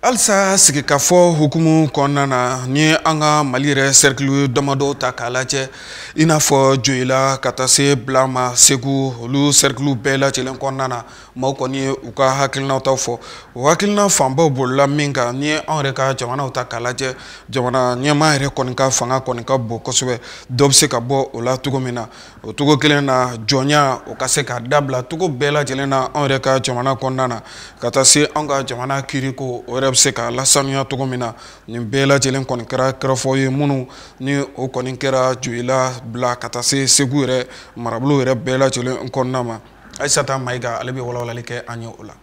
halisa sigikafɔ hukumu kɔnɔna na ni an ka mali yɛrɛ sɛrikili damadɔ ta k'a lajɛ i n'a fɔ joyila ka taa se bila ma segu olu sɛrikiliw bɛɛ lajɛlen kɔnɔna na maaw kɔni ye u ka hakilinaw taw fɔ o hakilina fanbaw bolila min kan n'i ye anw yɛrɛ ka jamana ta k'a lajɛ jamana ɲɛmaa yɛrɛ kɔni ka fanga kɔni ka bon kosɛbɛ dɔ bɛ se ka bɔ o la cogo min na o cogo kelen na jɔnya o ka se ka dabila cogo bɛɛ lajɛlen na anw yɛrɛ ka jamana kɔnɔna na ka taa se anw ka jamana kiiriko o yɛrɛ bɛ se ka lasanuya cogo min na nin bɛɛ lajɛlen kɔni kɛra kɔrɔfɔ ye minnu ni o kɔni kɛra joyila bila ka taa se segu yɛrɛ marabolo yɛrɛ bɛɛ lajɛlen kɔnɔna ma ayisata mayiga ale bɛ walawalali kɛ an ye o la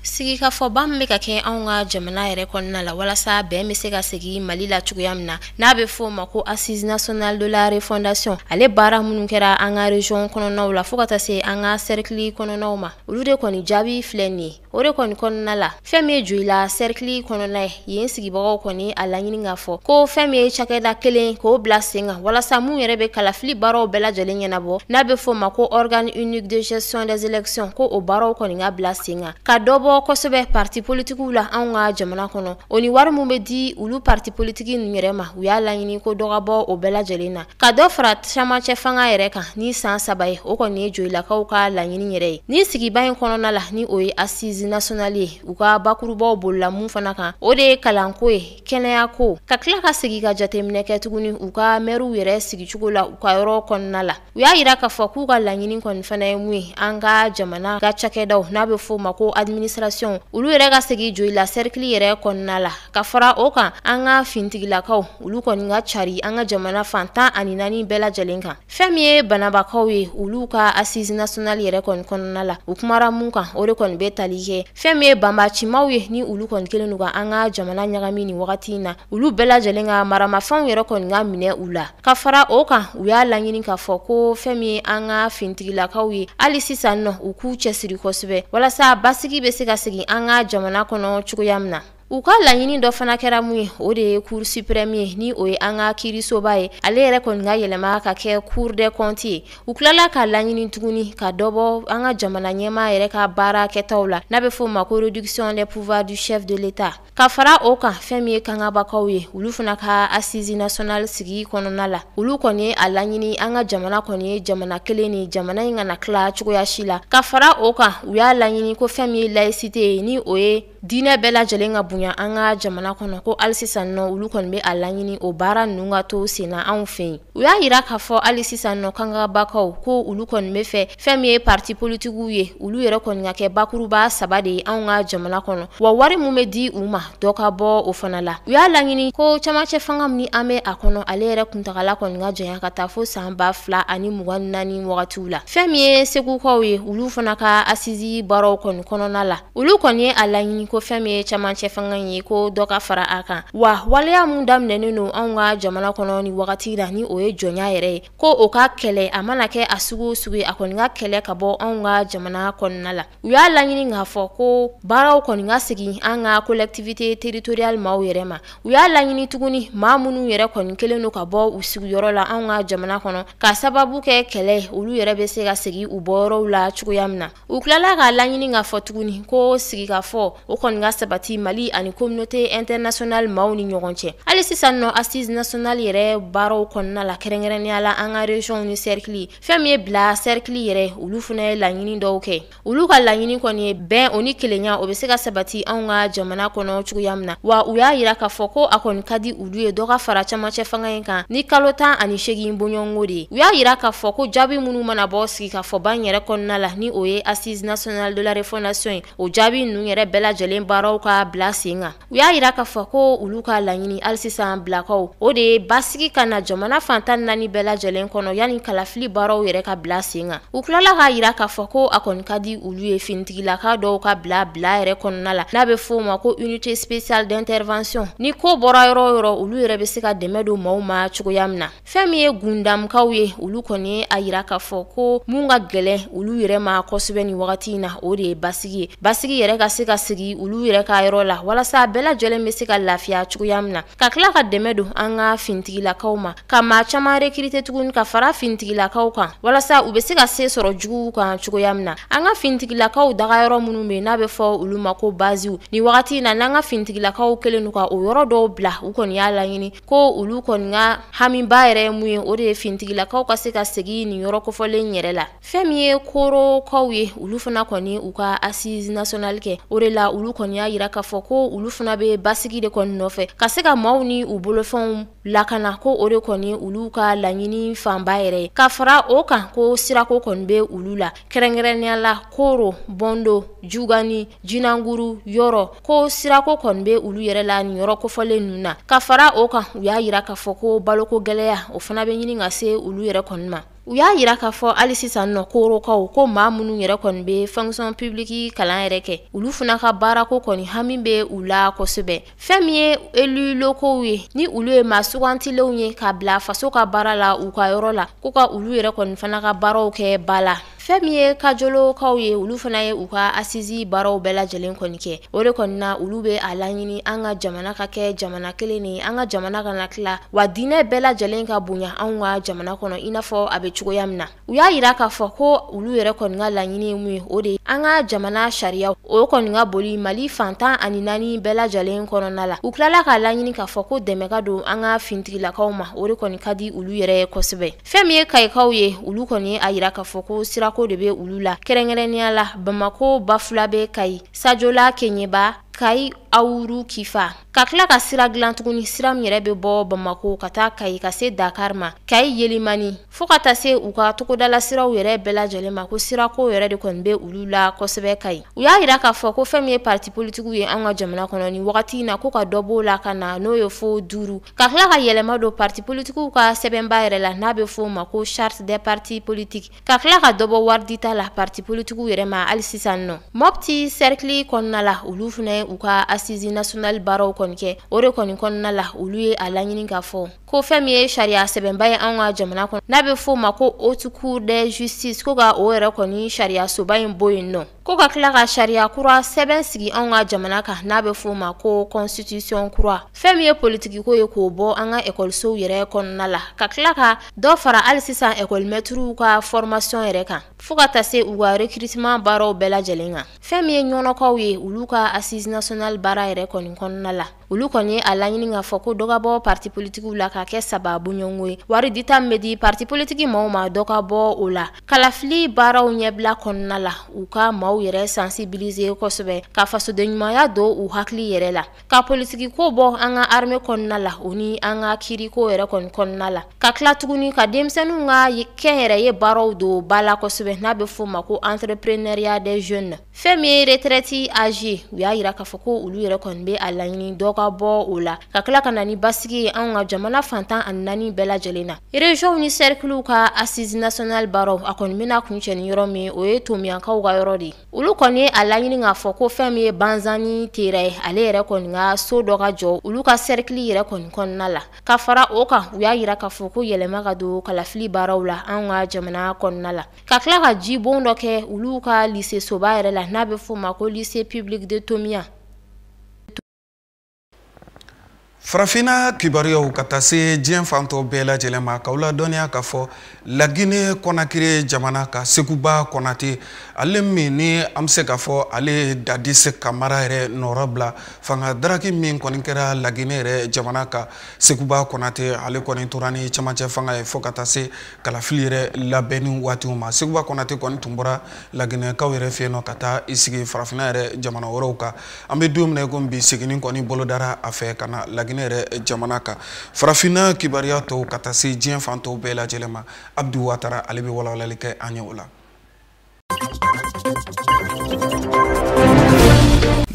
sigikafɔba min bɛ ka kɛ anw ka jamana yɛrɛ kɔnɔna la walasa bɛn bɛ se ka segin mali la cogoya min na n'a bɛ fɔ o ma ko assise nationale de la refondation ale baara minnu kɛra an ka region kɔnɔnaw la fo ka taa se an ka cercle kɔnɔnaw ma olu de kɔni jaabi filɛ nin ye o de kɔni kɔnɔna la fɛn min ye joyila sɛrikili kɔnɔna ye yen sigibagaw kɔni a laɲini k'a fɔ ko fɛn min ye cakɛda kelen k'o bila sen kan walasa mun yɛrɛ bɛ kalafili baaraw bɛɛ lajɛlen ɲɛnabɔ n'a bɛ f'o ma ko organe unique de gestion des élections ko o baaraw kɔni ka bila sen kan ka dɔ bɔ kosɛbɛ parti politikiw la anw ka jamana kɔnɔ o ni wari mun bɛ di olu parti politiki ninnu yɛrɛ ma u y'a laɲini ko dɔ ka bɔ o bɛɛ lajɛlen na ka dɔ fara camancɛ fanga yɛrɛ kan ni san saba ye o kɔni ye joyilakaw ka laɲini yɛrɛ ye ni sigiba in kɔnɔna la ni o ye assise nationale ye u ka bakurubaw bolila mun fana kan o de ye kalanko ye kɛnɛyako ka tila ka segi ka jateminɛ kɛ tuguni u ka mɛriw yɛrɛ sigicogo la u ka yɔrɔ kɔnɔna la u y'a yira k'a fɔ k'u ka laɲini kɔni fana ye mun ye an ka jamana ka cakɛdaw n'a bɛ f'o ma ko administration olu yɛrɛ ka segi joyila sɛrikili yɛrɛ kɔnɔna la ka fara o kan an ka fintigilakaw olu kɔni ka cari an ka jamana fan tan ani naani bɛɛ lajɛlen kan fɛn min ye banabakaw ye olu ka assise nationale yɛrɛ kɔni kɔnɔna la u kumara mun kan o de kɔni bɛ tali kɛ fɛn min ye banbacimaw ye ni olu kɔni kelen don ka an ka jamana ɲagami ni wagati in na olu bɛɛ lajɛlen ka maramafɛnw yɛrɛ kɔni ka minɛ u la ka fara o kan u y'a laɲini k'a fɔ ko fɛn min ye an ka fintigilakaw ye hali sisan nɔ u k'u cɛsiri kosɛbɛ walasa basigi bɛ se ka segin an ka jamana kɔnɔ cogoya min na U ka laɲini dɔ fana kɛra mun ye o de ye cour suprême ye ni o ye an ka kiirisoba ye ale yɛrɛ kɔni ka yɛlɛma ka kɛ cour des comptes ye u tilala k'a laɲini tuguni ka dɔ bɔ an ka jamana ɲɛmaa yɛrɛ ka baara kɛtaw la n'a bɛ f'o ma ko réduction des pouvoirs du chef de l'état ka fara o kan fɛn min ye kangabakaw ye olu fana ka assise nationale sigi kɔnɔna la olu kɔni ye a laɲini an ka jamana kɔni ye jamana kelen ni jamana in kana tila cogoya si la ka fara o kan u y'a laɲini ko fɛn min ye laïcité ye ni o ye Diinɛ bɛɛ lajɛlen ka bonya an ka jamana kɔnɔ ko hali sisan nɔ olu kɔni bɛ a laɲini o baara ninnu ka to senna anw fɛ yen u y'a yira k'a fɔ hali sisan nɔ kangabakaw ko olu kɔni bɛ fɛ fɛn min ye parti politikiw ye olu yɛrɛ kɔni ka kɛ bakuruba saba de ye anw ka jamana kɔnɔ wa wari min bɛ di u ma dɔ ka bɔ o fana la u y'a laɲini ko camancɛ fanga min an bɛ a kɔnɔ ale yɛrɛ kuntagala kɔni ka janya ka taa fo san ba fila ani mugan naani wagatiw la fɛn min ye segukaw ye olu fana ka asizi baaraw kɔni kɔnɔna la olu kɔni ye a laɲini ko fɛn min ye camancɛ fanga ye ko dɔ ka fara a kan wa waleya min daminɛnen don anw ka jamana kɔnɔ nin wagati la ni o ye jɔnya yɛrɛ ye ko o ka kɛlɛ a mana kɛ a sugu o sugu ye a kɔni ka kɛlɛ ka bɔ anw ka jamana kɔnɔna la u y'a laɲini k'a fɔ ko baaraw kɔni ka segin an ka collectivité territoriale maaw yɛrɛ ma u y'a laɲini tuguni maa minnu yɛrɛ kɔni kɛlen don ka bɔ u sigiyɔrɔ la anw ka jamana kɔnɔ ka sababu kɛ kɛlɛ olu yɛrɛ bɛ se ka segin u bɔyɔrɔw la cogoya min na u tilala k'a laɲini k'a fɔ tuguni ko sigikafɔ o kɔni ka sabati mali ani communauté internationale maaw ni ɲɔgɔn cɛ hali sisan nɔ assise nationale yɛrɛ baaraw kɔnɔna la kɛrɛnkɛrɛnnenya la an ka régionw ni sɛrikili fɛn min ye bila sɛrikili yɛrɛ olu fana ye laɲini dɔw kɛ olu ka laɲini kɔni ye bɛn o ni kelenya o bɛ se ka sabati anw ka jamana kɔnɔ cogoya min na wa u y'a yira k'a fɔ ko a kɔni ka di olu ye dɔ ka fara camancɛ fanga in kan ni kalo tan ani segin bɔɲɔgɔnko de ye u y'a yira k'a fɔ ko jaabi minnu mana bɔ sigikafɔba in yɛrɛ kɔnɔna la ni o ye assise nationale de la refondation ye o jaabi ninnu yɛrɛ bɛɛ lajɛlen baaraw ka bila sen kan u y'a yira k'a fɔ ko olu ka laɲini hali sisan bilakaw o de ye basigi ka na jamana fan tan naani bɛɛ lajɛlen kɔnɔ yanni kalafili baaraw yɛrɛ ka bila sen kan u tilala k'a yira k'a fɔ ko a kɔni ka di u olu ye fintigilaka dɔw ka bila bila yɛrɛ kɔnɔna la n'a bɛ f'o ma ko unité spéciale d'intervention ni ko bɔra yɔrɔ o yɔrɔ olu yɛrɛ bɛ se ka dɛmɛ don maaw ma cogoya min na fɛn min ye gundamkaw ye olu kɔni ye a yira k'a fɔ ko mun ka gɛlɛn olu yɛrɛ ma kosɛbɛ nin wagati in na o de ye basigi ye basigi yɛrɛ ka se ka segin olu yɛrɛ ka yɔrɔ la walasa bɛɛ lajɛlen bɛ se ka lafiya cogoya min na ka tila ka dɛmɛ don an ka fintigilakaw ma ka maa caman rekirite tuguni ka fara fintigilakaw kan walasa u bɛ se ka se sɔrɔ juguw kan cogoya min na an ka fintigilakaw dagayɔrɔ minnu bɛ n'a bɛ fɔ olu ma ko baziw nin wagati in na n'an ka fintigilakaw kɛlen don ka o yɔrɔ dɔw bila u kɔni y'a laɲini ko olu kɔni ka hamiba yɛrɛ ye mun ye o de ye fintigilakaw ka se ka segin nin yɔrɔ kofɔlen yɛrɛ la fɛn min ye koorokaw ye olu fana kɔni u ka assise nationale kɛ o de la olu kɔni y'a yira k'a fɔ ko olu fana bɛ basigi de kɔni nɔfɛ ka se ka maaw ni u bolofɛnw lakana ko o de kɔni olu ka laɲini fanba yɛrɛ ye ka fara o kan ko sirako kɔni bɛ olu la kɛrɛnkɛrɛnnenya la kooro bɔndo jugani jinanguru yɔrɔ ko sirako kɔni bɛ olu yɛrɛ la nin yɔrɔ kofɔlen ninnu na ka fara o kan u y'a yira k'a fɔ ko baloko gɛlɛya o fana bɛ ɲini ka se olu yɛrɛ kɔni ma u y'a yira k'a fɔ hali sisan nɔ korokaw ko maa minnu yɛrɛ kɔni bɛ fonction publique kalan yɛrɛ kɛ olu fana ka baarako kɔni hami bɛ u la kosɛbɛ fɛn min ye élus locaux ye ni olu ye maa sugantilenw ye ka bila faso ka baara la u ka yɔrɔ la ko ka olu yɛrɛ kɔni fana ka baaraw kɛ ba la fɛn min ye kajolokaw ye olu fana ye u ka assise baaraw bɛɛ lajɛlen kɔni kɛ o de kɔni na olu bɛ a laɲini an ka jamana ka kɛ jamana kelen de ye an ka jamana kana tila wa diinɛ bɛɛ lajɛlen ka bonya an ka jamana kɔnɔ i n'a fɔ a bɛ cogoya min na u y'a yira k'a fɔ ko olu yɛrɛ kɔni ka laɲini ye mun ye o de ye an ka jamana sariya o kɔni ka boli mali fan tan ani naani bɛɛ lajɛlen kɔnɔna la u tilala k'a laɲini k'a fɔ ko dɛmɛ ka don an ka fintigilakaw ma o de kɔni ka di olu yɛrɛ ye kosɛbɛ Fɛn min ye kayikaw ye olu kɔni y'a yira k'a fɔ ko sirako de bɛ olu la kɛrɛnkɛrɛnnenya la bamakɔ bafulabɛ kayi sajola kɛɲɛba kayi awuru kifa ka tila ka sira dilan tuguni sira min yɛrɛ bɛ bɔ bamakɔ ka taa kayi ka se dakari ma kayi yelimani fo ka taa se u ka togodala siraw yɛrɛ bɛɛ lajɛlen ma ko sirako yɛrɛ de kɔni bɛ olu la kosɛbɛ kayi u y'a yira k'a fɔ ko fɛn min ye patipolitigiw ye an ka jamana kɔnɔ ni wagati in na ko ka dɔ b'o la ka na n'o ye fo duuru Ka tila ka yɛlɛma don pati politigiw ka sɛbɛnba yɛrɛ la n'a bɛ f'o ma ko charte des partis politiques ka tila ka dɔ bɔ wari dita la pati politigiw yɛrɛ ma hali sisan nɔ mɔpti sɛrikili kɔnɔna la olu fana ye u ka assise nationale baaraw kɔni kɛ o de kɔni kɔnɔna la olu ye a laɲini k'a fɔ ko fɛn min ye sariya sɛbɛnba ye an ka jamana kɔnɔ n'a bɛ f'o ma ko haute cour de justice ko ka o yɛrɛ kɔni sariyasoba in bɔ yen nɔ Ko ka tila ka sariya kura sɛbɛn sigi anw ka jamana kan n'a bɛ f'o ma ko constitution kura fɛn min ye politikiko ye k'o bɔ an ka ekɔlisow yɛrɛ kɔnɔna la ka tila ka dɔ fara hali sisan ekɔlimɛtiriw ka formation yɛrɛ kan fo ka taa se u ka recrutement baaraw bɛɛ lajɛlen kan fɛn min ye ɲɔnɔkaw ye olu ka assise nationale baara yɛrɛ kɔni kɔnɔna la olu kɔni y'a laɲini k'a fɔ ko dɔ ka bɔ parti politigiw la ka kɛ saba bɔɲɔgɔnko ye wari dita min bɛ di parti politigi maaw ma dɔ ka bɔ o la kalafili baaraw ɲɛbila kɔnɔna la u ka maaw yɛrɛ sensibiliser kosɛbɛ ka fasodenɲumanya don u hakili yɛrɛ la ka politigiko bɔ an ka arme kɔnɔna la o ni an ka kiiriko yɛrɛ kɔni kɔnɔna la ka tila tuguni ka denmisɛnninw ka kɛnyɛrɛye baaraw don ba la kosɛbɛ n'a bɛ fɔ o ma ko entrepreneuriat des jeunes fɛn min ye retraite âge u y'a yira k'a fɔ ko olu yɛrɛ kɔni bɛ a laɲini dɔ ka bɔ o la ka tila ka na ni basigi ye anw ka jamana fan tan ani naani bɛɛ lajɛlen na ereziyɔnw ni sɛrikiliw ka assise nationale baaraw a kɔni bɛna kuncɛ ni yɔrɔ min o ye tomiyankaw ka yɔrɔ de ye olu kɔni ye a laɲini k'a fɔ ko fɛn min ye banzani tera ye ale yɛrɛ kɔni ka so dɔ ka jɔ olu ka sɛrikili yɛrɛ kɔni kɔnɔna la ka fara o kan u y'a yira k'a fɔ ko yɛlɛma ka don kalafili baaraw la anw ka jamana kɔnɔna la ka tila ka jibon dɔ kɛ olu ka lise soba yɛrɛ la n'a bɛ f'o ma ko lise public de tomiya farafinna kibaruyaw ka taa se diɲɛ fan tɔ bɛɛ lajɛlen ma k'aw ladɔnniya k'a fɔ lagine kɔnakiri jamana kan seguba kɔnate ale min ni an bɛ se k'a fɔ ale ye dadis kamara yɛrɛ nɔrɔ bila fanga daraki min kɔni kɛra lagine yɛrɛ jamana kan seguba kɔnate ale kɔni tora ni camancɛ fanga ye fo ka taa se kalafili yɛrɛ labɛnni waatiw ma seguba kɔnate kɔni tun bɔra laginɛkaw yɛrɛ fɛ yen nɔ ka taa i sigi farafinna yɛrɛ jamana wɛrɛw kan an bɛ don min na i ko bi seginni kɔni bolodara a fɛ ka na laginɛ yɛrɛ jamana kan farafinna kibaruya tɔw ka taa se diɲɛ fan tɔw bɛɛ lajɛlen ma abdu watara ale bɛ walawalali kɛ an ye o la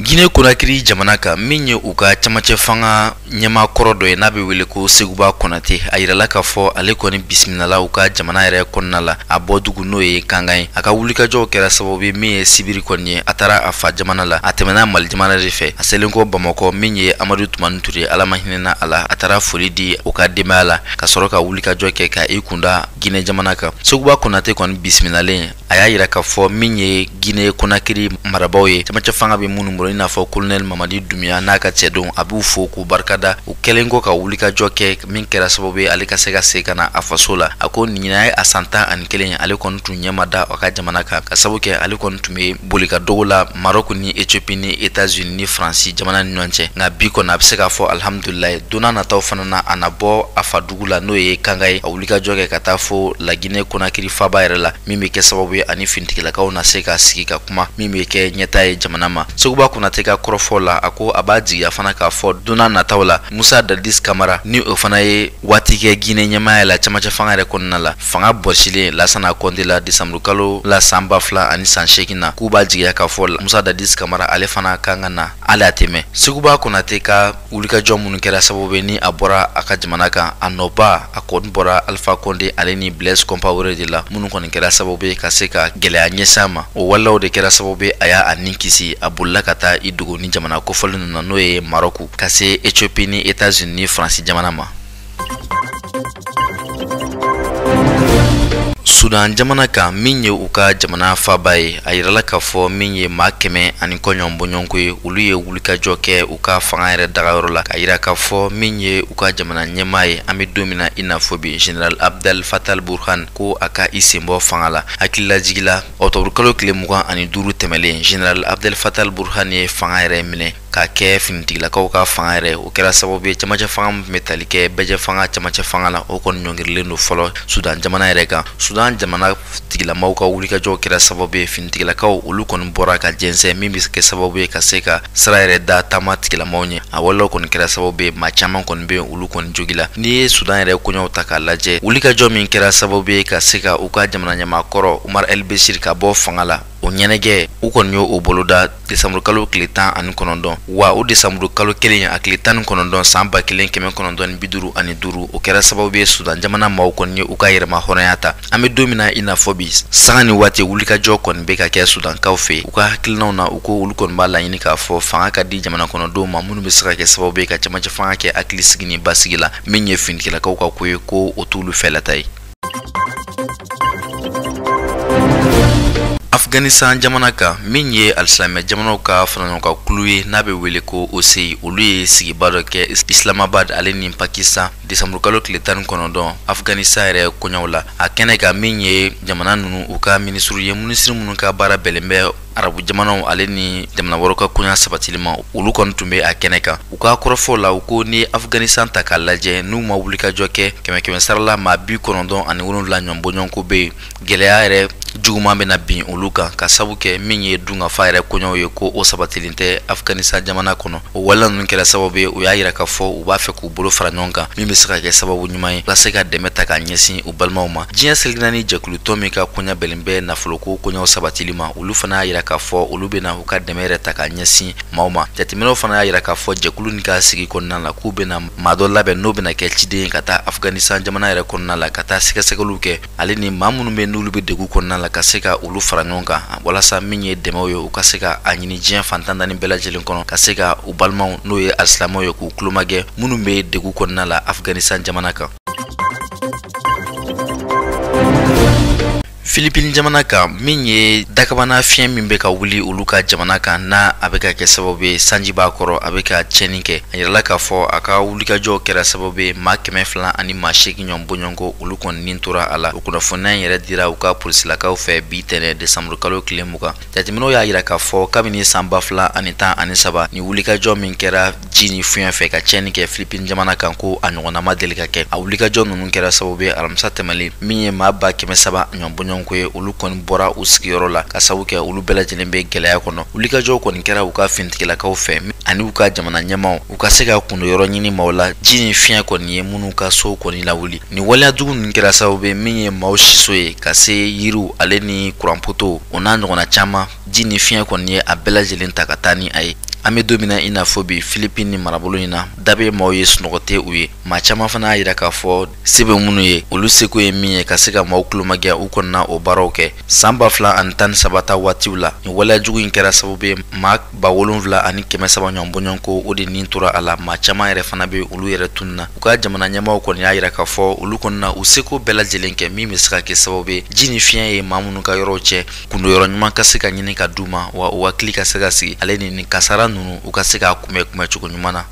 gine konakiri jamana kan min ye u ka camancɛ fanga ɲɛmaa kɔrɔ dɔ ye n'a bɛ wele ko seguba kɔnate a yirala k'a fɔ ale kɔni bisimilala u ka jamana yɛrɛ kɔnɔna la a bɔ dugu n'o ye kankan ye a ka wulikajɔw kɛra sababu ye min ye sibiri kɔni ye a taara a fa jamana la a tɛmɛna mali jamana de fɛ a selen kɔ bamakɔ min ye amadu tumani ture ala ma hinɛna a la a taara foli di o ka denbaya la ka sɔrɔ ka wulikajɔ kɛ ka i kunda Guinée jamana kan seguba konate kɔni bisimilalen a y'a yira k'a fɔ min ye guinee konakiri marabaaw ye cɛmancɛ fanga bɛ minnu bolo i n'a fɔ kolonɛli mamadi dumbuya n'a ka cɛdenw a b'u fo k'u barika da u kɛlen kɔ ka wulikajɔ kɛ min kɛra sababu ye ale ka se ka segin ka na a faso la a ko ɲinan ye a san tan ani kelen ye ale kɔni tun ɲɛ ma da a ka jamana kan ka sabu kɛ ale kɔni tun bɛ boli ka dogo la marɔk ni ethiopie ni etats unis ni faransi jamana ni ɲɔgɔn cɛ nka bi kɔni a bɛ se k'a fɔ alihamudulilayi donna nataw fana na a na bɔ a fa dugu la n'o ye kankan ye a wulikajɔ kɛ ka taa fo lagine konakiri faba yɛrɛ la min bɛ kɛ sababu ye a ni finitigilakaw na se ka sigi ka kuma min bɛ kɛ ɲɛtaa ye jamana ma seguba konate ka kɔrɔfɔ la a ko a b'a jigiya fana k'a fɔ donna nataw la musa dadis kamara ni o fana ye waati kɛ gine ɲɛmaaya la camancɛ fanga yɛrɛ kɔnɔna la fanga bɔsilen lasana kɔnte la desanburukalo la san ba fila ani san seegin na k'u b'a jigiya k'a fɔ musa dadis kamara ale fana kan ka na hali a tɛmɛ seguba konate ka wulikajɔ minnu kɛra sababu ye ni a bɔra a ka jamana kan a nɔba a kɔni bɔra alpha konde ale ni blaise compaore de la minnu kɔni kɛra sababu ye ka se ka gwɛlɛya ɲɛsin a ma o waleyaw de kɛra sababu ye a y'a ni kisi a bolila ka taa i dogo nin jamana kofɔlen ninnu na n'o ye marɔku ka se ethiopie ni etats unis ni faransi jamana ma sudan jamana kan min ye u ka jamana faba ye a yirala k'a fɔ min ye maa kɛmɛ ani kɔ ɲɔgɔn bɔɲɔgɔnko ye olu ye wulikajɔ kɛ u ka fanga yɛrɛ dagayɔrɔ la k'a yira k'a fɔ min ye u ka jamana ɲɛmaa ye an bɛ don min na i n'a fɔ bi general abdel fatah al burhan ko a ka i sen bɔ fanga la hakililajigila ɔkutɔburukalo tile mugan ani duuru tɛmɛlen general abdel fatah al burhan ye fanga yɛrɛ minɛ k'a kɛ finitigilakaw ka fanga yɛrɛ o kɛra sababu ye cɛmancɛ fanga min bɛ tali kɛ bɛɛjɛ fanga cɛmancɛ fanga la o kɔni ɲɔngirilen don fɔlɔ sudan jamana yɛrɛ kan sudan jamana tigilamaw ka wulikajɔw kɛra sababu ye finitigilakaw olu kɔni bɔra ka jɛnsɛn min bɛ kɛ sababu ye ka se ka sira yɛrɛ da taama tigilamaw ɲɛ a walew kɔni kɛra sababu ye maa caman kɔni bɛ olu kɔni jogila n'i ye sudan yɛrɛ koɲɛw ta k'a lajɛ wulikajɔ min kɛra sababu ye ka se ka u ka jamana ɲɛmaa kɔrɔ umar el beshir ka bɔ fanga la o ɲɛnajɛ u kɔni y'o boloda desanburukalo tile tan ani kɔnɔntɔn wa o desanburukalo kelen a tile tan ni kɔnɔntɔn san ba kelen kɛmɛ kɔnɔntɔn ni biduru ani duuru o kɛra sababu ye sudan jamana maaw kɔni ye u ka yɛrɛma hɔrɔnya ta an bɛ don min na i n'a fɔ bi sanga ni waati wulikajɔ kɔni bɛ ka kɛ sudankaw fɛ u ka hakilinaw na u ko olu kɔni b'a laɲini k'a fɔ fanga ka di jamana kɔnɔdenw ma minnu bɛ se ka kɛ sababu ye ka camancɛ fanga kɛ hakili sigi ni basigi la min ye finitigilakaw ka ko ye ko o t'olu fɛlata ye afghanistan jamana kan min ye alisilamɛ jamanaw ka faraɲɔgɔnkan kulu ye n'a bɛ wele ko oci olu ye sigiba dɔ kɛ islamabad ale ni pakistan desanburukalo tile tan ni kɔnɔntɔn afghanistan yɛrɛ koɲɛw la a kɛnɛ kan min ye jamana ninnu u ka minisiriw ye minisiri minnu ka baara bɛnnen bɛ arabu jamanaw ale ni jamana wɛrɛw ka koɲa sabatili ma olu kɔni tun bɛ a kɛnɛ kan u ka kɔrɔfɔ la u ko n'i ye afganistan ta k'a lajɛ n'u ma wulikajɔ kɛ kɛmɛ kɛmɛ sarala maa bi kɔnɔntɔn ani wolonwula ɲɔgɔn bɔɲɔgɔnko bɛ yen gɛlɛya yɛrɛ juguman bɛna bin olu kan k'a sabu kɛ min ye dunkafa yɛrɛ koɲɛw ye ko o sabatilen tɛ afganistan jamana kɔnɔ o waleya ninnu kɛra sababu ye u y'a yira k'a fɔ u b'a fɛ k'u bolo fara ɲɔgɔn kan min bɛ se ka kɛ sababu ɲuman ye walasa ka dɛmɛ ta ka ɲɛsin u balimaw ma diɲɛ seleke naani jɛkulutɔn min ka koɲa bɛnnen bɛ nafoloko koɲɛw sabatili ma olu fana y'a yira k'a fɔ olu bɛna u ka dɛmɛ yɛrɛ ta ka ɲɛsin maaw ma jateminɛw fana y'a yira k'a fɔ jɛkulu nin ka sigi kɔnɔna la k'u bɛna maa dɔ labɛn n'o bɛna kɛ ciden ye ka taa afganistan jamana yɛrɛ kɔnɔna la ka taa sɛgɛsɛgɛliw kɛ ale ni maa minnu bɛ n'olu bɛ degun kɔnɔna la ka se ka olu fara ɲɔgɔn kan walasa min ye dɛmɛw ye u ka se ka a ɲini diɲɛ fan tan ni naani bɛɛ lajɛlen kɔnɔ ka se ka u balimaw n'o ye alisilamɛw ye k'u kulomagɛn minnu bɛ degun kɔnɔna la afganistan jamana kan filipini jamana kan min ye dakabana fiɲɛ min bɛ ka wuli olu ka jamana kan n'a a bɛ ka kɛ sababu ye sanji b'a kɔrɔ a bɛ ka tiɲɛni kɛ a yirala k'a fɔ a ka wulikajɔw kɛra sababu ye maa kɛmɛ fila ani maa seegin ɲɔgɔn bɔɲɔgɔnko olu kɔni nin tora a la o kunnafoniya in yɛrɛ dira u ka polisilakaw fɛ bi tɛnɛ desanburukalo tile mugan jateminɛw y'a yira k'a fɔ kabini san ba fila ani tan ani saba ni wulikajɔ min kɛra ji ni fiɲɛ fɛ ka tiɲɛni kɛ filipini jamana kan ko a ɲɔgɔnna ma deli ka kɛ a wulikajɔ ninnu kɛra sababu ye alamisa tɛmɛlen min ye maa ba kɛmɛ saba ɲɔgɔn bɔɲɔgɔnko ye olu kɔni bɔra u sigiyɔrɔ la k'a sabu kɛ olu bɛɛ lajɛlen bɛ gɛlɛya kɔnɔ wulikajɔ kɔni kɛra u ka finitigilakaw fɛ ani u ka jamana ɲɛmaaw u ka se ka kundo yɔrɔ ɲini maaw la ji ni fiɲɛ kɔni ye minnu ka sow kɔni lawuli ni waleya jugu ninnu kɛra sababu ye min ye maaw siso ye ka se yiriw ale ni kuranpotow o n'a ɲɔgɔnna caman ji ni fiɲɛ kɔni ye a bɛɛ lajɛlen ta ka taa ni a ye an bɛ don min na i n'a fɔ bi filipini ni marabolo in na da bɛ maaw ye sunɔgɔ tɛ u ye maa caman fana y'a yira k'a fɔ se bɛ minnu ye olu seko ye min ye ka se ka maaw kulomagɛn u kɔni na o baaraw kɛ san ba fila ani tan ni saba ta waatiw la nin waleya jugu in kɛra sababu ye maa ba wolonfila ani kɛmɛ saba ɲɔgɔn bɔɲɔgɔnko o de nin tora a la maa caman yɛrɛ fana bɛ olu yɛrɛ tununna u ka jamana ɲɛmaaw kɔni y'a yira k'a fɔ olu kɔni na u seko bɛɛ lajɛlen kɛ min bɛ se ka kɛ sababu ye ji ni fiɲɛ ye maa minnu ka yɔrɔw cɛ kundo yɔrɔ ɲuman ka se ka ɲini ka d'u ma wa u hakili ka se ka sigi ale ni nin kasara ninnu u ka se k'a kunbɛn kunbɛn cogo ɲuman na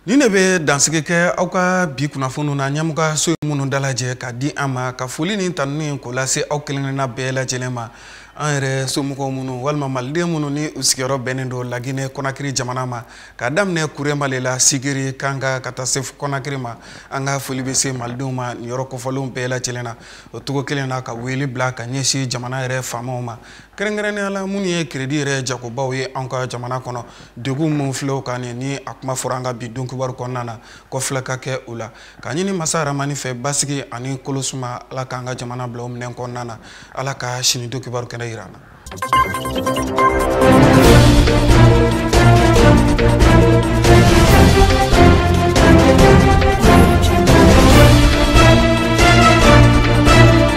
nin de bɛ dansigi kɛ aw ka bi kunnafoniw na ɲɛmɔgɔso ye minnu dalajɛ ka di an ma ka foli ni tanuni k'o lase aw kelenkelenna bɛɛ lajɛlen ma an yɛrɛ somɔgɔw minnu walima maliden minnu ni u sigiyɔrɔ bɛnnen don laginɛ kɔnakiri jamana ma ka daminɛ kuremale la sigiri kankan ka taa se kɔnakiri ma an ka foli bɛ se malidenw ma nin yɔrɔ kofɔlenw bɛɛ lajɛlen na o cogo kelen na ka wele bila ka ɲɛsin jamana yɛrɛ faamaw ma kɛrɛnkɛrɛnnenya la minnu ye kredi yɛrɛ jagobaw ye an ka jamana kɔnɔ degun min filɛ u kan nin ni a kuma fɔra an ka bi don kibaru kɔnɔna na kɔfilɛ ka kɛ u la ka ɲini masa rahamani fɛ basigi ani kolosuma ala k'an ka jamana bila o minɛn kɔnɔna na ala ka sini don kibaru kɛnɛ yira an na